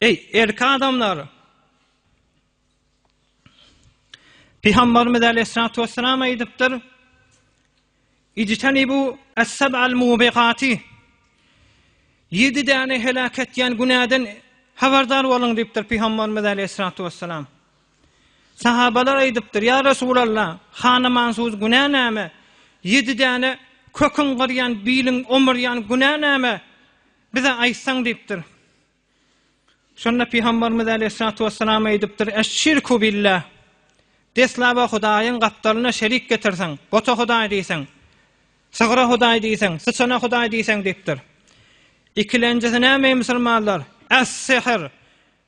Eý erki adamlar! Pygamberimiz aleyhissalatu vesselam aýdypdyr. Ijtenibu es-seb'al mubikati, Ýedi däne heläk etýän günäden habardar boluň diýipdir Pygamberimiz aleýhissalatu wessalam. Sahabalar aýdypdyr, Ýa Resulalla, hanamansuz günä näme? Ýedi däne kökiň gyrýan, biliň omurýan günä näme? Bize aýtsaň diýipdir. Şonda Pygamberimiz aleýhissalatu wesselam aýdypdyr, Eş-şirku billah, Deslaba Hudaýyň gapdalyna şerik getirseň, bota Hudaý diýseň, sygra Hudaý diýseň, syçana Hudaý diýseň diýipdir. Ikilenjisi näme eý musulmanlar? Es-sihr,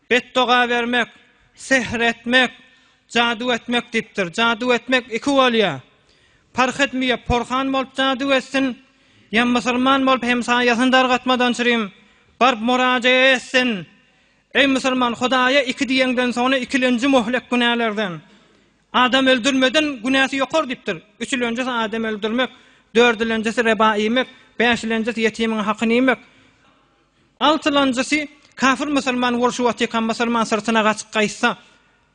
betdoga bermek, sihr etmek, jadu etmek diýipdir. Jadu etmek iki bolýar. Parh etmeýär, porhan bolup jadu etsin, Ýa musulman bolup hem saýasyny dargatmadan çyrim, baryp murajaýa etsin. Eý musulman Hudaýa iki diýeňden soňra ikilenji möhlek günälerden. Adam öldürmeden günäsi ýokar diýipdir. Üçülenjisi adam öldürmek, dördülenjisi reba iýmek, bäşilenjisi ýetimiň hakyny iýmek, altylanjysy kafir musulman bolşy watikan musulman syrtyna gaçyp gaýtsa,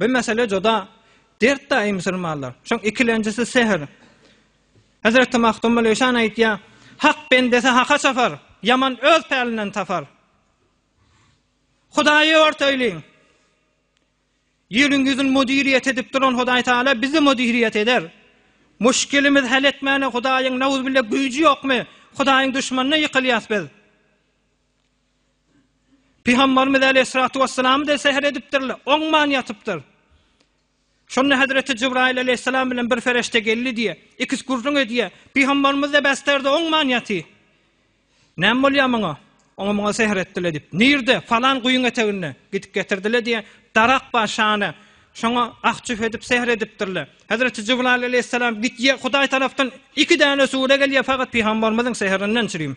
Bu mesele juda dert daýy musulmanlar. Şoň ikilenjisi sehr. Hezreti Magtymguly Işan aýtýar, Hak bendesi haka çapar, ýaman öz pälinden tapar. Hudaýy ört öýliň. Ýeriň ýüzün müdiriýet edip duran Hudaý Taala bizi müdiriýet eder. Muşkilimiz hal etmäne Hudaýyň nawzubille güýji ýokmy? Hudaýyň duşmanyna ýykylýas biz. Pygambarymyz aleýhissalatu wessalam-da säher edipdirler, oňman ýatypdyr. Şonda Hezreti Jibraýyl aleýhissalam bilen bir ferişde geldi diýýär. Ikisi gürrüň edýär. Pygambarymyz-da bästerde oňman ýaty. Näme bolýar muňa? Oňa-muňa säher etdiler diýip. Nirde? Falan guýyň eteginde. Gidip getirdiler diýýär. Darak bar şana. Şoňa ah-çüh edip säher edipdirler. Hezreti Jibraýyl aleýhissalam gidýär, Hudaý tarapdan iki däne sure gelýär, fakat pygambarymyzyň säherinden çürim.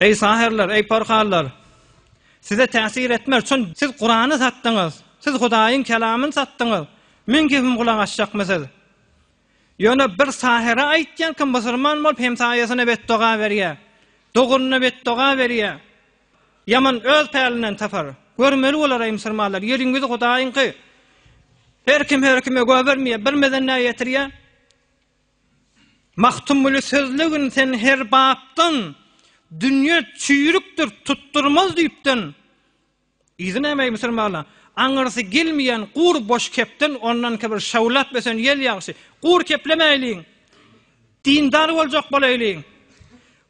Eý säherler, eý porhallar! Size täsir etmez, çünki siz Kurany satdyňyz, siz Hudaýyň Kelamyny satdyňyz, meň gepime gulak asjakmy siz? Ýöne bir sähere aýtýan kim musurman bolup hemtaýasyna betdoga berýä, doganyna betdoga berýä, ýaman öz pälinden tapar. Görmeli bolar eý musurmanlar, ýeriň ýüzi Hudaýyňky. Her kim her kime göbermeýär, birmeden näýetirýär? Magtymguly sözlügin sen her bapdan, Dünýe çüýrükdir, tutdurmaz düýpden. Yzy nämeý musulmana? Aňyrsy gelmeýän gur boş kepden ondanka bir şawlap ösen ýel ýagşy. Gur keplemäýliň. Dindar boljak bolaýlyň.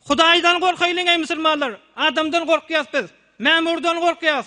Hudaýdan gorkaýlyň eý musulmanlar. Adamdan gorkýas biz. Mämurdan gorkýas.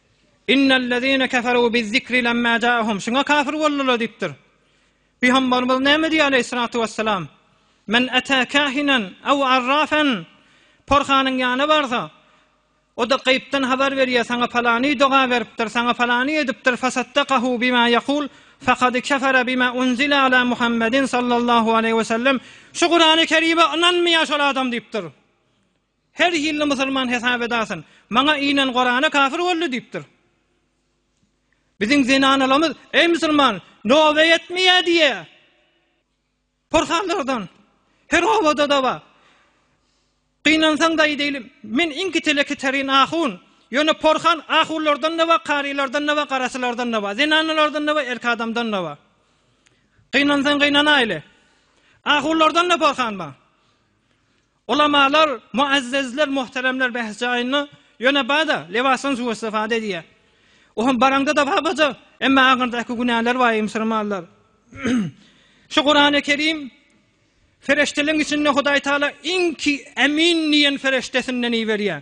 Innellezine keferu bizzikri lemma ja'ahum. Şuňa kafir boldular diýipdir. Pygamberimiz näme diýýär aleýhissalatu wesselam? Men ata kahinen aw arrafan. Porhanyň ýanyna barsa, o-da gaýypdan habar berýär, saňa palany doga beripdir, saňa palany edipdir, fasaddakahu bima ýakul, fakad kefere bima unzile ala Muhammedin sallallahu aleýhi wesellem. Şu Kurany Kerime ynanmaýar şol adam diýipdir. Her hilli musulman hesap edasyn. Maňa inan Gorana kafir boldy diýipdir. Biziň zenanalamyz eý musulman nobe ýetmeýä diýä. Porhallardan. Her obada da bar. Gynansaň daýy diýilim. Men iňki teleki terin ahun. Ýöne porhan ahunlardan da bar, karylardan da bar, garasylardan da bar. Zenanalardan da bar, erki adamdan da bar. Gynansaň gynanaýly. Ahunlardan da porhan bar. Ulamalar, muazzezler, muhteremler bäs jaýynda, ýöne bada, lebasyň suw istifade edýär. O hem baraňda-da babaja, emma aňyrdaky günäler bar eý musulmanlar. Şu Kurany Kerim ferişteleň içinde Hudaý Taala iňki Emin diýen feriştesinden iberýär.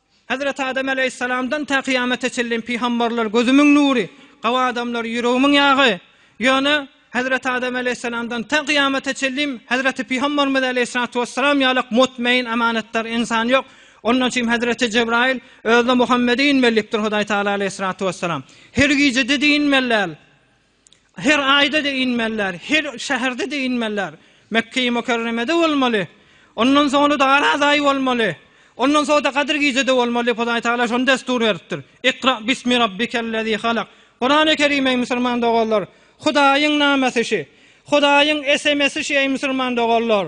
Hezreti Adam aleýhissalamdan tä kyýamata çenli pygambarlar gözümiň nury, gawa adamlar ýüregimiň ýagy. Ýöne Hezreti Adam aleýhissalamdan tä kyýamata çenli Hezreti pygambarymyz aleýhissalatu wessalam ýalak mutmaýyn amanatdar ynsan ýok. Ondan üçin Hezreti Jebraýyl özüne Muhammedi inmeli diýipdir Hudaý Taala aleýhissalatu wessalam. Her gije didi inmeli däl. Her aýda-da inmeliler, her şäherde-de inmeliler. Mekge-i Mükerremede bolmaly. Ondan soňra-da Araz aýy bolmaly. Ondan soňra-da Gadyr gijede bolmaly. Hudaý Tagala şony dessur beripdir. Ikra bismi rabbikellezî halak. Kurany Kerim, eý musulman doganlar, Hudaýyň namesi şi. Hudaýyň SMS-i şi, eý musulman doganlar.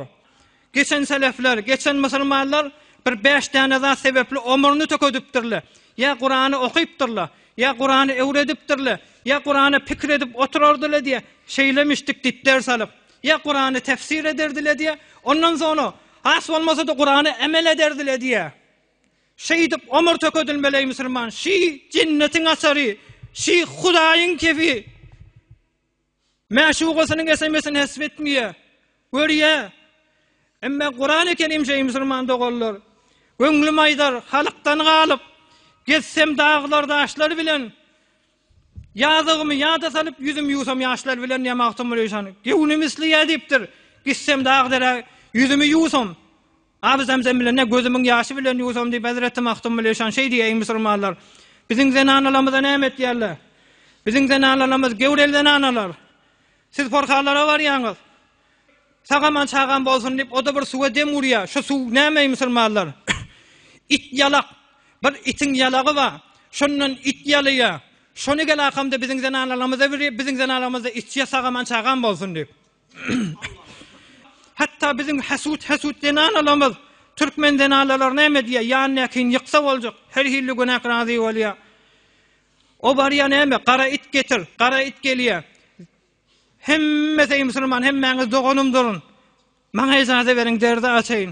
Geçen selefler, geçen musulmanlar bir bäş däne zat sebäpli omruny tökedipdirler. Ýa Kurany okypdyrlar, ýa Kurany öwredipdirler, ýa Kurana pikir edip oturardylar diýýär, şeýlemişdik diýip ders alyp, ýa Kurany tefsir ederdiler diýýär, ondan soňra has bolmasa-da Kurana emel ederdiler diýýär. Şeýdip omur tökedilmeli eý musulman, şi jennetiň açary, şi Hudaýyň kefi. Mäşugasynyň SMS-ini hesp etmeýä, görýä. Emma guran ekenim şeý musulman doganlar. Göňlüm aýdar, halykdan galyp, gezsem daglar, daşlar bilen. Ýazygymy ýada salyp, ýüzüm ýuwsam ýaşlar bilen diýýär Magtymguly şany. Göwnüm isleýär diýipdir, gitsem dag-derä, ýüzümi ýuwsam, Abi Zemzem bilen ne gözümiň ýaşy bilen ýuwsam diýip hezreti Magtymguly Eşan şeý diýýär, Eý musulmanlar! Biziň zenanalarymyza näme etýärler? Biziň zenanalarymyz göwreli zenanalar. Siz porhalara barýaňyz. Sag-aman çagam bolsun diýip o-da bir suwa dem urýar. Şu suw näme eý musulmanlar? It ýalak. Bir itiň ýalagy bar. Şondan it ýalaýar. Şony gel akamda biziň zenanalarymyza bir iýip, biziň zenanalarymyz-da içýär sag-aman çagam bolsun diýip. Hatda biziň hasut hasut zenanalarymyz türkmen zenanalary näme diýýär, ýanyndakyny ýyksa boljak, her hilli günäk razy bolýar. O barýar näme, gara it getir, gara it gelýär. Hemmesi musulman, hemmäňiz doganymdyr. Maňa ejaza beriň, derdi açaýyn.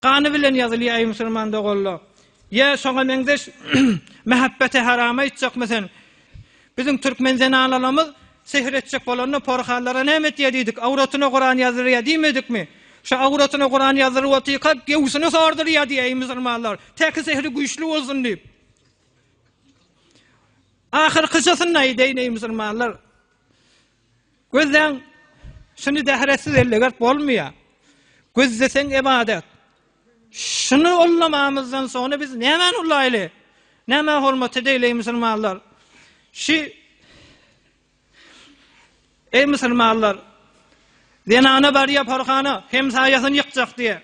Gany bilen ýazylýar, eý musulman doganlar! Ýa şoňa meňzeş mähebbete haram aýtjakmy sen? Biziň türkmen zenanalarymyz sehr etjek bolanda porhallara näme etýär diýdik, awratyna Kuran ýazdyrýar diýmedikmi? Şu awratyna Kuran ýazdyryp otyrka göwsüni sordurýar diý, eý musulmanlar! Täki sehri güýçli bolsun diýip. Ahyrkyjysyny aýdaýyn, eý musulmanlar! Gözleň, şuny dähretsiz ellegert bolmaýar. Gözleseň ybadat. Şuny ullamamyzdan soňra biz nämäni ullaýly? Nämä hormat edeýli eý musulmanlar? Şi Eý musulmanlar, zenana barýar porhana, hemsaýasyny ýykjak diýe.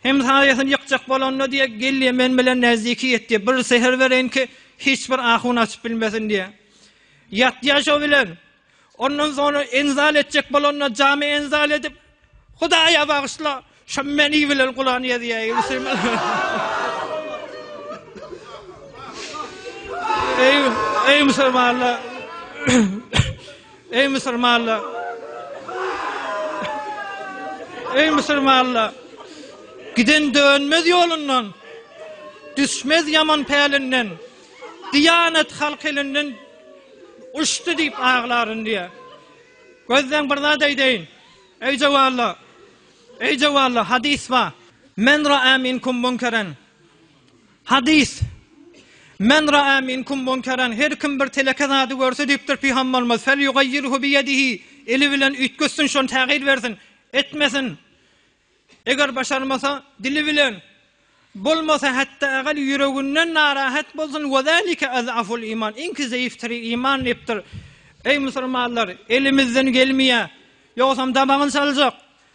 Hem saýasyny ýykjak bolanda diýe, Gelýä men bilen näzdiki ýet diýe, bir säher bereýin ki, hiç bir ahun açyp bilmesin diýe. Ýatýa şo bilen. Ondan soňra enzal etjek bolanda jamy enzal edip, Hudaýa bagyşla, şo meni bilen Kuran ýazýaý. Eý, eý musulmanlar! Eý musulmanlar! Eý musulmanlar! Giden dönmez ýolundan, düşmez ýaman pälinden, diýanat halk elinden uçdy diýip aglaryn diýýär. Gözleň bir zat aýdaýyn. Eý jawanlar! Eý jawanlar, hadys bar. Men ra'a minkum munkeren. Hadys, Men ra'a minkum munkaran, her kim bir teleke zady görse diýipdir Pygamberimiz, Felýugaýýirhu biýedihi, eli bilen üýtgetsin şony tägyr bersin, etmesin. Eger başarmasa, dili bilen, bolmasa hatda eger ýüreginden narahat bolsun, we zalike az'aful iman, iňki zeýif tiri iman diýipdir. Eý musulmanlar, elimizden gelmeýär, ýogsam dabagyny çaljak.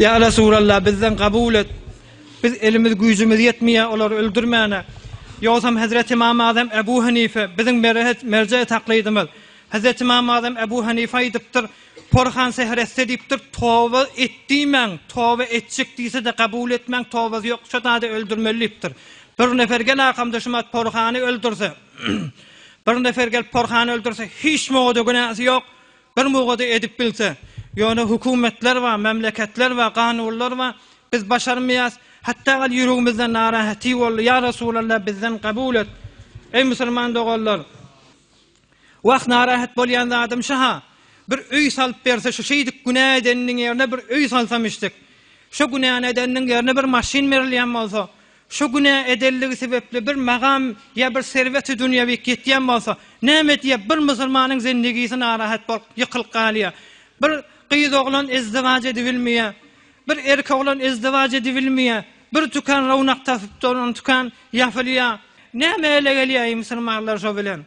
Ya Resulallah bizden kabul et. Biz elimiz güýjümiz ýetmeýär olary öldürmäne. Ýogsam Hazret İmam Azam Ebu Hanife biziň merhet merje taklidimiz. Hazret İmam Azam Ebu Hanife aýdypdyr, Porhan seher etse diýipdir, toba et diýmäň, toba etjek diýse de kabul etmäň, tobasy ýok, şu zady öldürmeli diýipdir. Bir nefer gel akamda şu mat Porhany öldürse, Bir nefer gelip porhany öldürse, hiç mugada günäsi ýok. Bir mugada edip bilse, ýöne hökümetler bar, memleketler bar, ganuwlar bar. Biz başarmaýas. Hatda gal ýüregimizden narahaty boldy. Ýa Resulallah bizden kabul et. Eý musulman doganlar. Wah narahat bolýan zadym şaha. Bir öý salyp berse şu şeýdik günä edeniniň ýerine bir öý salsam işdik. Şu günäni edeniniň ýerine bir maşyn berilýän bolsa, Şu günä edelligi sebepli bir magam ýa bir serweti dünýewi ýetýän bolsa, näme diýýär, bir musulmanyň zendigisi narahat bolup, ýykylyp galýar. Bir gyz oglan ezdiwaç edibilmeýär. Bir erkek oglan ezdiwaç edibilmeýär. Bir tükan rownak tapyp duran tükan ýapylýar. Näme ele gelýär, eý musulmanlar şo bilen?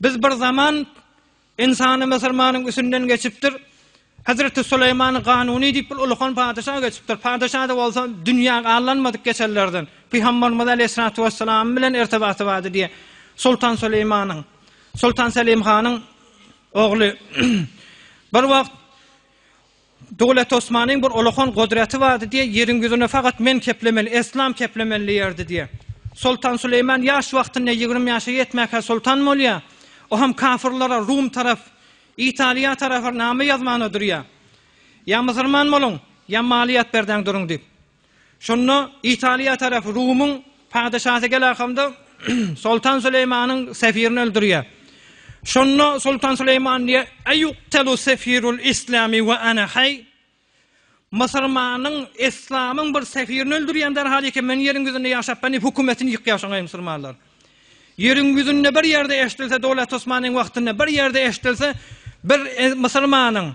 Biz bir zaman Insany Mysyrmanyň üsünden geçipdir. Hezreti Süleýmany Ganuny diýip bir ulykan padeşa geçipdir. Padeşa-da bolsa dünýä allanmadyk geçenlerden. Pygamberimiz Aleýhissalatu Wesselam bilen ertebaty bardy diýe. Sultan Süleýmanyň, Sultan Selim hanyň ogly. Bir wagt Döwlet Osmanyň bir olakan godraty bardy diýe, ýeriň ýüzüne fakat men keplemeli, eslam keplemeli diýerdi diýe. Soltan Süleýman ýaş wagtynda ýigrimi ýaşa ýetmäkä soltan bolýa, o hem kafyrlara, Rum tarap, Italiýa tarapa name ýazmana durýa. Ýa Mysyrman boluň, ýa maliýat berdäň duruň diýip. Şonda Italiýa tarapy Rumyň patyşasy Gelahamda Soltan Süleýmanyň sefirini öldürýär. Şonda Soltan Süleýman diýýär, Eýuktelu sefirul islami we ana haý? Mysyrmanyň, islamyň bir sefirini öldürýän derhal eken, men ýeriň ýüzünde ýaşapman diýip, hökümetini ýykýar şoňa ey, mysyrmanlar. Ýeriň ýüzünde bir ýerde eşdilse, Dowlet Osmanyň wagtynda bir ýerde eşdilse, bir musulmanyň,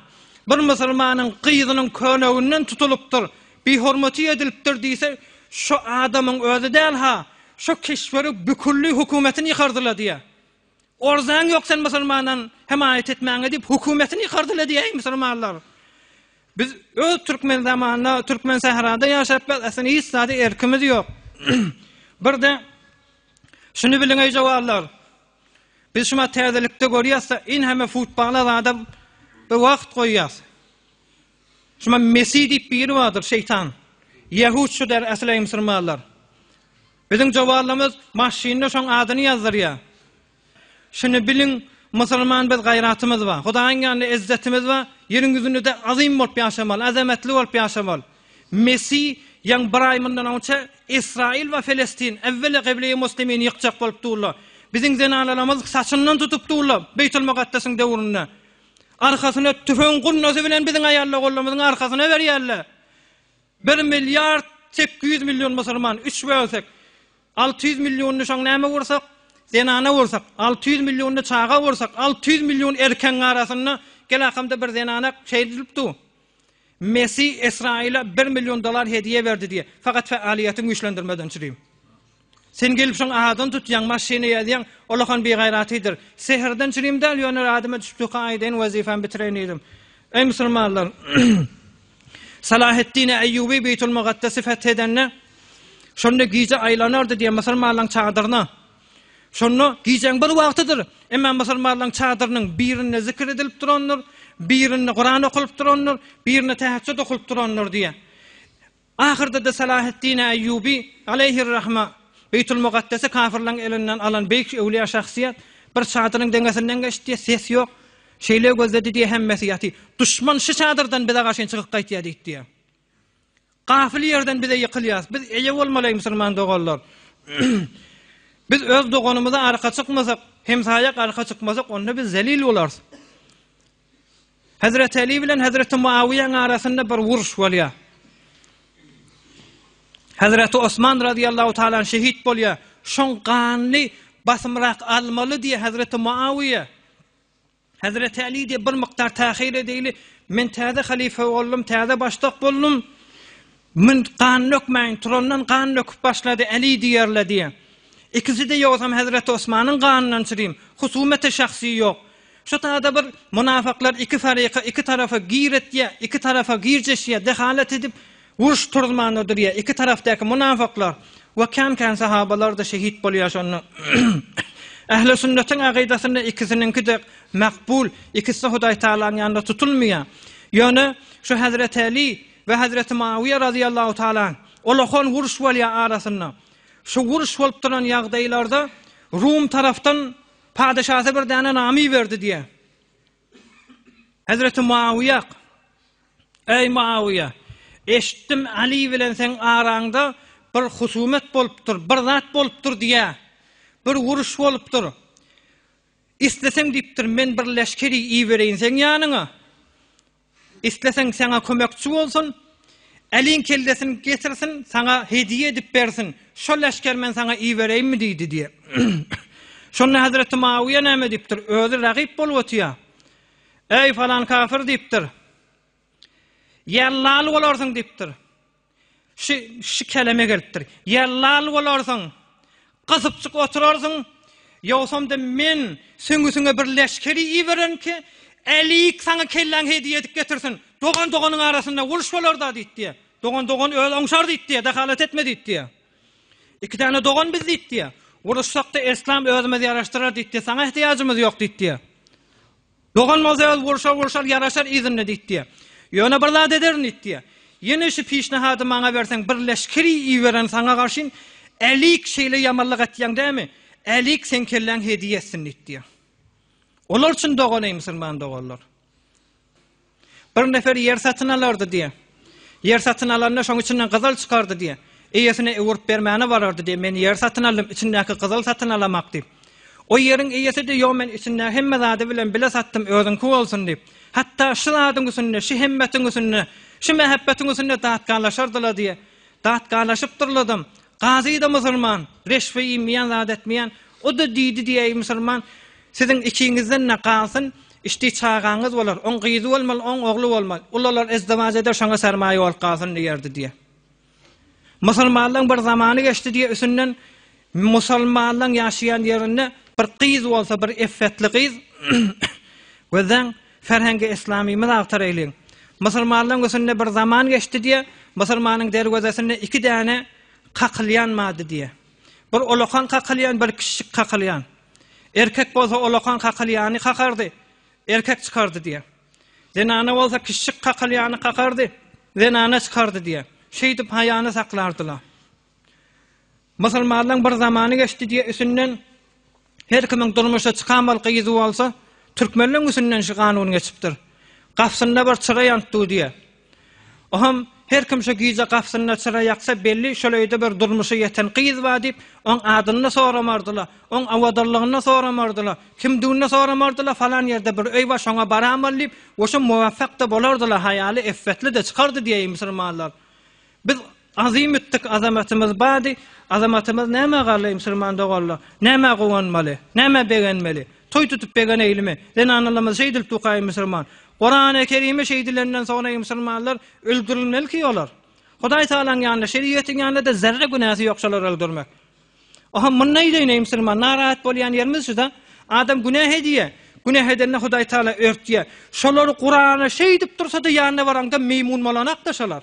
bir musulmanyň gyzynyň köneginden tutulypdyr, bihormaty edilipdir diýse, şo adamyň özi däl-ha, şo keşberi bükülli hökümetini ýykardyla diýä. Orzaň ýok sen musulmandan hemaýat etmäňe diýip hökümetini ýykardyla diýäý musulmanlar. Biz öz türkmen zamanynda türkmen sährada ýaşap biz aslynda hiç zady erkimiz ýok. Birde şuny biliň eý jawarlar. Biz şuma täzelikde görýäsde in hemme futbala zada bir wagt goýýas. Şuma Messi diýip biri bardyr şeýtan. Ýehud şu der asly musulmanlar. Biziň jawarlarymyz maşynda şoň adyny ýazdyrýar. Şuny biliň, musulman biz gaýratymyz bar, Hudaýyň ýanynda ezzetimiz bar, ýeriň ýüzünde-de azym bolup ýaşamaly, azamatly bolup ýaşamaly. Messi ýaňy bir aý mundan owçe Israil we Felestin äwwela Gibleýi Muslimini ýykjak bolup durlar. Biziň zenanalarymyz saçyndan tutup durlar Beýtulmugaddesiň döwründe. Arkasyna tüfeň gurnasy bilen biziň aýallar gollarymyzyň arkasyna berýärler. Bir milliard sekiz ýüz million musulman, üç bölsek, Alty ýüz million nişan näme borsak, zenana borsak, alty ýüz million çaga borsak, alty ýüz million erkegiň arasynda gelakamda bir zenana şeýle diýlip dur. Messi Israila bir million dollar hediýe berdi diýe. Fakat faaliyetiň güýçlendirmeden çyryp. Sen gelip şoň adan tutýaň, maşyny ýazýaň, olahan bir gaýratydyr. Seherden çyryp däl, ýöne radyma düşüp tuka aýdaýyn, wezifämi bitireýin diýdim. Eý musulmanlar! Salaheddine Eýýuby Beýtulmugaddesi feth edende, şonda gije aýlanardy diýen musulmanlaryň çadyryna. Şonda gijäň bir wagtydyr, emma musulmanlaryň çadyrynyň birinde zikir edilip durandyr, birinde Kuran okulyp durandyr, birinde täheçjut okulyp durandyr diýýär. Ahyrda-da Salaheddine Eýýuby aleýhir-rahma Beýtulmugaddesi kafirleriň elinden alan beýik öwliýa şahsyýet bir çadyryň deňesinden geçdi, ses ýok, Şeýle gözledi diýýär hemmesi ýaty. Duşman şu çadyrdan bize garşyn çykyp gaýtýar diýip diýýär. Gafyl ýerden bize ýykylýas. Biz eje bolmaly musulman doganlar. Biz öz doganymyza arka çykmasak, hemsaýak arka çykmasak, onda biz zelil bolarys. Hezreti Eli bilen Hezreti Muawiýanyň arasynda bir uruş bolýar. Hezreti Osman radiyallahu taala şehit bolýar. Şoň ganly basymrak almaly diýe Hezreti Muawiýe Hezreti Aly diýip bir mukdar tahyr edeýli, Men täze halyfa boldum, täze başdak boldum. Men gan dökmäýin, turandan gan döküp başlady, Aly diýerler diýýär. Ikisi-de ýogsam Hezreti Osmanyň ganyndan çyryň. Husumete şahsy ýok. Şu taýda bir munafyklar iki faryka, iki tarapa gir etýär, iki tarapa girjeşýär, dehalat edip, Uruş turuzmanda durýar. Iki tarapdaky mynafyklar we kän-kän sahabalar-da şehit bolýar şonda. Ähli sünnetiň akydasynda ikisiniňki-de makbul, ikisi-de Hudaý Tagalaň ýanynda tutulmaýar. Ýöne şu Hezreti Äli we Hezreti Muawiýa razyýallahu tagala anh, olahan uruş bolýar arasynda. Şu uruş bolup duran ýagdaýlarda Rum tarapdan padeşasy bir däne name iberdi diýýär. Hezreti Muawiýa, Eý Muawiýa, eşitdim Aly bilen seň araňda bir husumet bolupdyr, bir zat bolupdyr diýýä. Bir uruş bolupdyr. Isleseň diýipdir, men bir leşkeri ibereýin seň ýanyňa. Isleseň saňa kömekçi bolsun, Äliň kellesini getirsin, saňa hediýe edip bersin, şo leşgeri men saňa ibereýinmi? diýdi diýýär. Şonda hezreti Muawyýa näme diýipdir? Özi ragyp bolup otyýar. Eý, falan kafir diýipdir. Ýallaly bolarsyň diýipdir. Şu, şu keleme gelipdir. Ýa lal bolarsyň, gysypjyk oturarsyň, ýogsam-da men süňňüsiňe bir leşgeri ibererin ki, Älik saňa kelläňi hediýe edip getirsin. Dogan doganyň arasynda uruş bolar-da diýipdi. Dogan dogan özi oňşar diýipdi, dehalat etme diýipdi. Iki däne dogan biz diýipdi. Uruşsak-da, eslam özümiz ýaraşdyrar diýipdi. Saňa ehtiýajymyz ýok diýipdi. Dogan bolsa ol urşar urşar ýaraşar yzynda diýip diýýär. Ýöne bir zat ederin diýip diýýär. Ýene şu pişnahady maňa berseň bir leşkeri ibererin saňa garşyn Älik şeýle ýamanlyk etýäň dämi? Älik seň kelläň hediýe etsin diýip diýýär. Olar üçin dogan eý musulman doganlar. Bir nefer ýer satyn alardy diýýär. Ýer satyn alanda şoň içinden gyzyl çykardy diýýär. Eýesine öwürip bermäne barardy diýýär. Men ýer satyn aldym, içindäki gyzyl satyn alamak diýip. O ýeriň eýesi diýýär, ýok men içindäki hemme zady bilen bile satdym, özüňki bolsun diýip. Hatda şu zadyň üstünde, şu hemmetiň üstünde, şu mähebbetiň üstünde datkalaşardylar diýýär. Datgalaşypdyrladam, gazy-da musurman, reşbe iýmeýän, zat etmeýän. O-da diýdi diýäý musurman, Siziň ikiňizden-de galsyn, işdi çagaňyz bolar, oň gyzy bolmaly, oň ogly bolmaly. Ulalar ezdewaç eder, şoňa sermaýa bolup galsyn diýerdi diýýär. Musurmanlaň bir zamany geçdi diýýär, üstünden musulmanlaň ýaşaýan ýerinde bir gyz bolsa, bir effetli gyz, gözleň, Ferhengi Islamymyz agtar eýleýin. Musulmanlaň üsünde bir zaman geçdi diýýär, musulmanyň derwezesinde iki däne kakylýan mady diýýär. Bir ulakan kakylýan, bir kiçijik kakylýan. Erkek bolsa ulakan kakylýany kakardy, erkek çykardy diýýär. Zenana bolsa kiçijik kakylýany kakardy, zenana çykardy diýýär. Şeýdip haýany saklardylar. Musulmanlaň bir zamany geçdi diýe üsünden her kimiň durmuşa çykan bolky yzy bolsa türkmenleň üsünden şu kanun geçipdir. Gapsynda bir çyra ýantdy diýe. Oham her kim şu gije gapsynda çyra ýaksa belli şol öýde bir durmuşa ýeten gyz bar diýip oň adyny-da soramardyla, oň awadarlygyny-da soramardyla, kimdigini-de soramardyla falan ýerde bir öý bar şoňa baramyl diýip oşo muwafak-da bolardyla haýaly effetli-de çykardy diýeýin musulmanlar. Biz azym ütdik, azamatymyz bady, azamatymyz nämä galdy, musulman doganlar, nämä guwanmaly, nämä begenmeli, toý tutup begeneýlimi, zenanalymyzy şeýdilip dukaý musulman, Kurany Kerimi şeýdilenden soň eý musulmanlar, öldürilmeliki olar, Hudaý Tagalaň ýanynda, şeriýetiň ýanynda-da zerre günäsi ýok şolary öldürmek. Oho muny neýleýin eý musulman, narahat bolýan ýerimiz şuda, adam günäh edýä, günäh edende Hudaý Tagala örtýä, şolary Kurana şeýdip dursada ýanyna baraňda meýmun bolanakda şolar.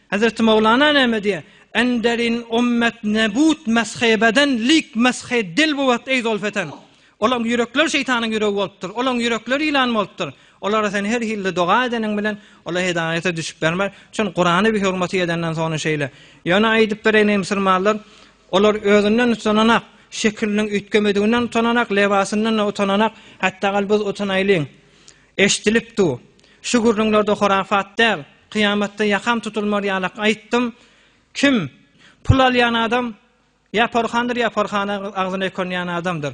Hazreti Mowlana näme diýýär? Enderin ummet nebut meshe beden lik meshe dil buwat eý zolfeten. Olaň ýürekleri şeýtanyň ýüregi bolupdyr. Olaň ýürekleri ýylan bolupdyr. Olara sen her hilli doga edeniň bilen, olar hidaýata düşüp bermär. Çün Kurany bi hurmaty edenden soňra şeýle. Ýöne aýdyp bereýin eý musulmanlar, olar özünden utananak, şekiliniň üýtgemediginden utananak, lebasyndan-da utananak, hatda gal biz utanaýlyň. Eşdilip du. Şu gürrüňlerde horafat däl, kyýamatda ýakam tutulmar ýalak aýtdym. Kim? Pul alýan adam ýa porhandyr ýa porhana agzyny ökünýän adamdyr.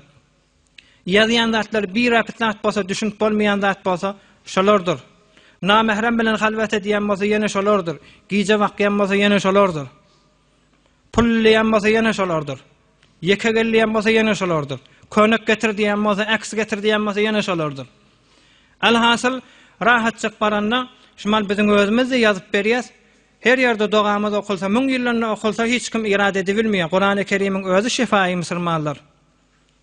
Ýazýan zatlar birapyt zat bolsa düşünip bolmaýan zat bolsa şolardyr. Namährem bilen halwat edýän bolsa ýene şolardyr. Gije bakýan bolsa ýene şolardyr. Pullyýan bolsa ýene şolardyr. Ýeke gelýän bolsa ýene şolardyr. Könek getir diýen bolsa, äks getir diýen bolsa ýene şolardyr. Alhasyl, rahatjyk baranda, şumal biziň özümiz-de ýazyp berýäs. Her ýerde dogamyz okulsa, müň ýyllanda okulsa hiç kim irad edibilmeýär. Kurany Kerimiň özi şyfaýy musulmanlar.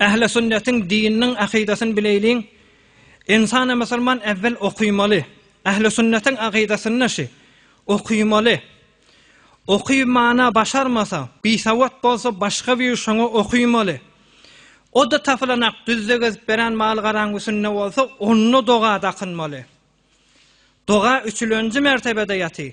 Ähli sünnetiň dininiň akydasyny bileýliň. Insana musulman äwwel okymaly. Ähli sünnetiň akydasynda şi. Okymaly. Oky mana başarmasa, bisawat bolsa başga bir şoňa okymaly. O-da tapylanak düzde gezip beren mal garaň üsünde bolsa, onda doga dakynmaly. Doga üçülenji mertebede ýaty.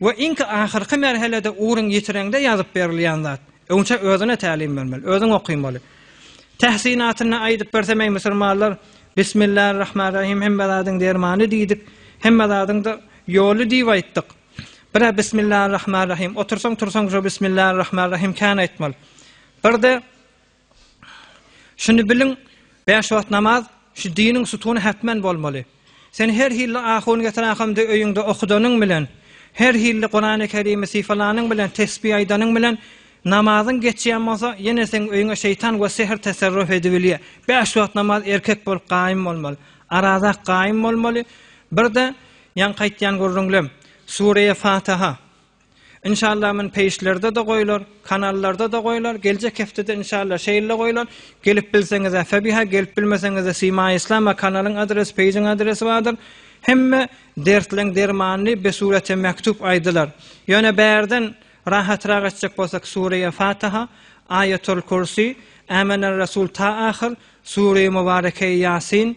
we iň ahyrky merhelede ugrun ýitireňde ýazyp berilýän zat, öňçe özüne tälim bermeli, özüň okynmaly. Tähsinatynda aýdyp bersem eý musurmanlar, Bismillarrahmanrahim hemme zadyň dermany diýdik, hemme zadyň-da ýoly diýip aýtdyk. Bir-ä Bismillarrahmanrahim, otursaň-tursaň şo Bismillarrahmanrahim kän aýtmaly. Bir-de Şuny biliň, bäş wagt namaz, şu diniň sütuny hätmen bolmaly. Sen her hilli ahun getirahumdy öýüňde okudanyň bilen, her hilli Kurany Kerimi syfalanyň bilen, tesbi aýdanyň bilen, namazyň geçýän bolsa, ýene seň öýüňe şeýtan we sehr teserruf edibilýär. Bäş wagt namaz erkek bolup gaýym bolmaly. Arazak gaýym bolmaly. Bir-de, ýaňky aýtýan gürrüňlem, Sureýe Fataha, Inşallah men peýişlerde-de goýlar, kanallarda-da goýlar, geljek hepdede inşallah şeýle goýlar. Gelip bilseňiz-ä febiha, gelip bilmeseňiz-ä Sima Islam-a kanalyň adresi, peýjiň adresi bardyr. Hemme dertleň dermanyny bi surete mektup aýdylar. Ýöne bärden rahatrak etjek bolsak Sureýe Fataha, Aýatul Kursi, Ämenel Rasul ta ahyr, Sureýe Mubarekeýe Ýasin,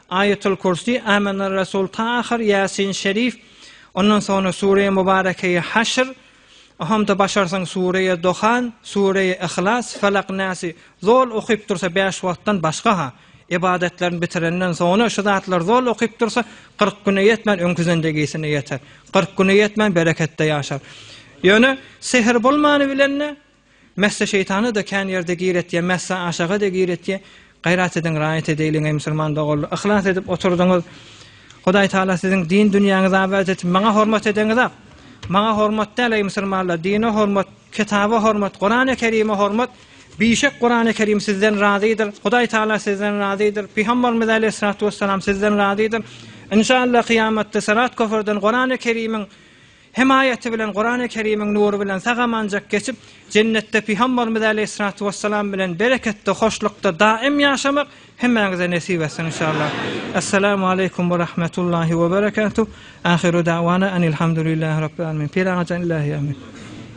Aýatul Kürsi, Amener Resul Tahyr, Ýasin Şerif, ondan soňra Sureýi Mubarekeýi Haşr, Ohamda başarsaň Sureýi Dohan, Sureýi Yhlas, Felak Nasi zol okyp dursa bäş wagtdan başga ha, ybadatlaryny bitirenden soňra şu zatlar zol okyp dursa kyrk güne ýetmän öňki zendegisine ýeter. Kyrk güne ýetmän bereketde ýaşar. Ýöne sehr bolmany bilen-de, Messe şeýtana da kän ýerde gir etýä messe aşaga de gir etýä gaýrat ediň raýat edeýliň eý musulman doganlar yhlas edip oturdyňyz Hudaý taala siziň din dünýäňizi abat etsin maňa hormat edeňiz ak maňa hormat däl eý musulmanlar dine hormat kitaba hormat Kurany kerime hormat Bişek Kurany kerim sizden razydyr Hudaý taala sizden razydyr Pygamberimiz aleýhissalatu wessalam sizden razydyr Inşallah kyýamatda syrat köprüden Kurany kerimiň Hemaýaty bilen Kurany Kerimiň nury bilen sag-amanjak geçip, Jennetde Pygambarymyz Aleýhissalatu Wessalam bilen bereketde, hoşlukda daim ýaşamak hemmäňize nesip etsin inşallah. Essalamu Aleýkum we Rahmetullahi we Berekatuh. Ahyru Da'wana Anilhamdulillahi Rabbil Alamin. Pir Agajan Illahi Amin.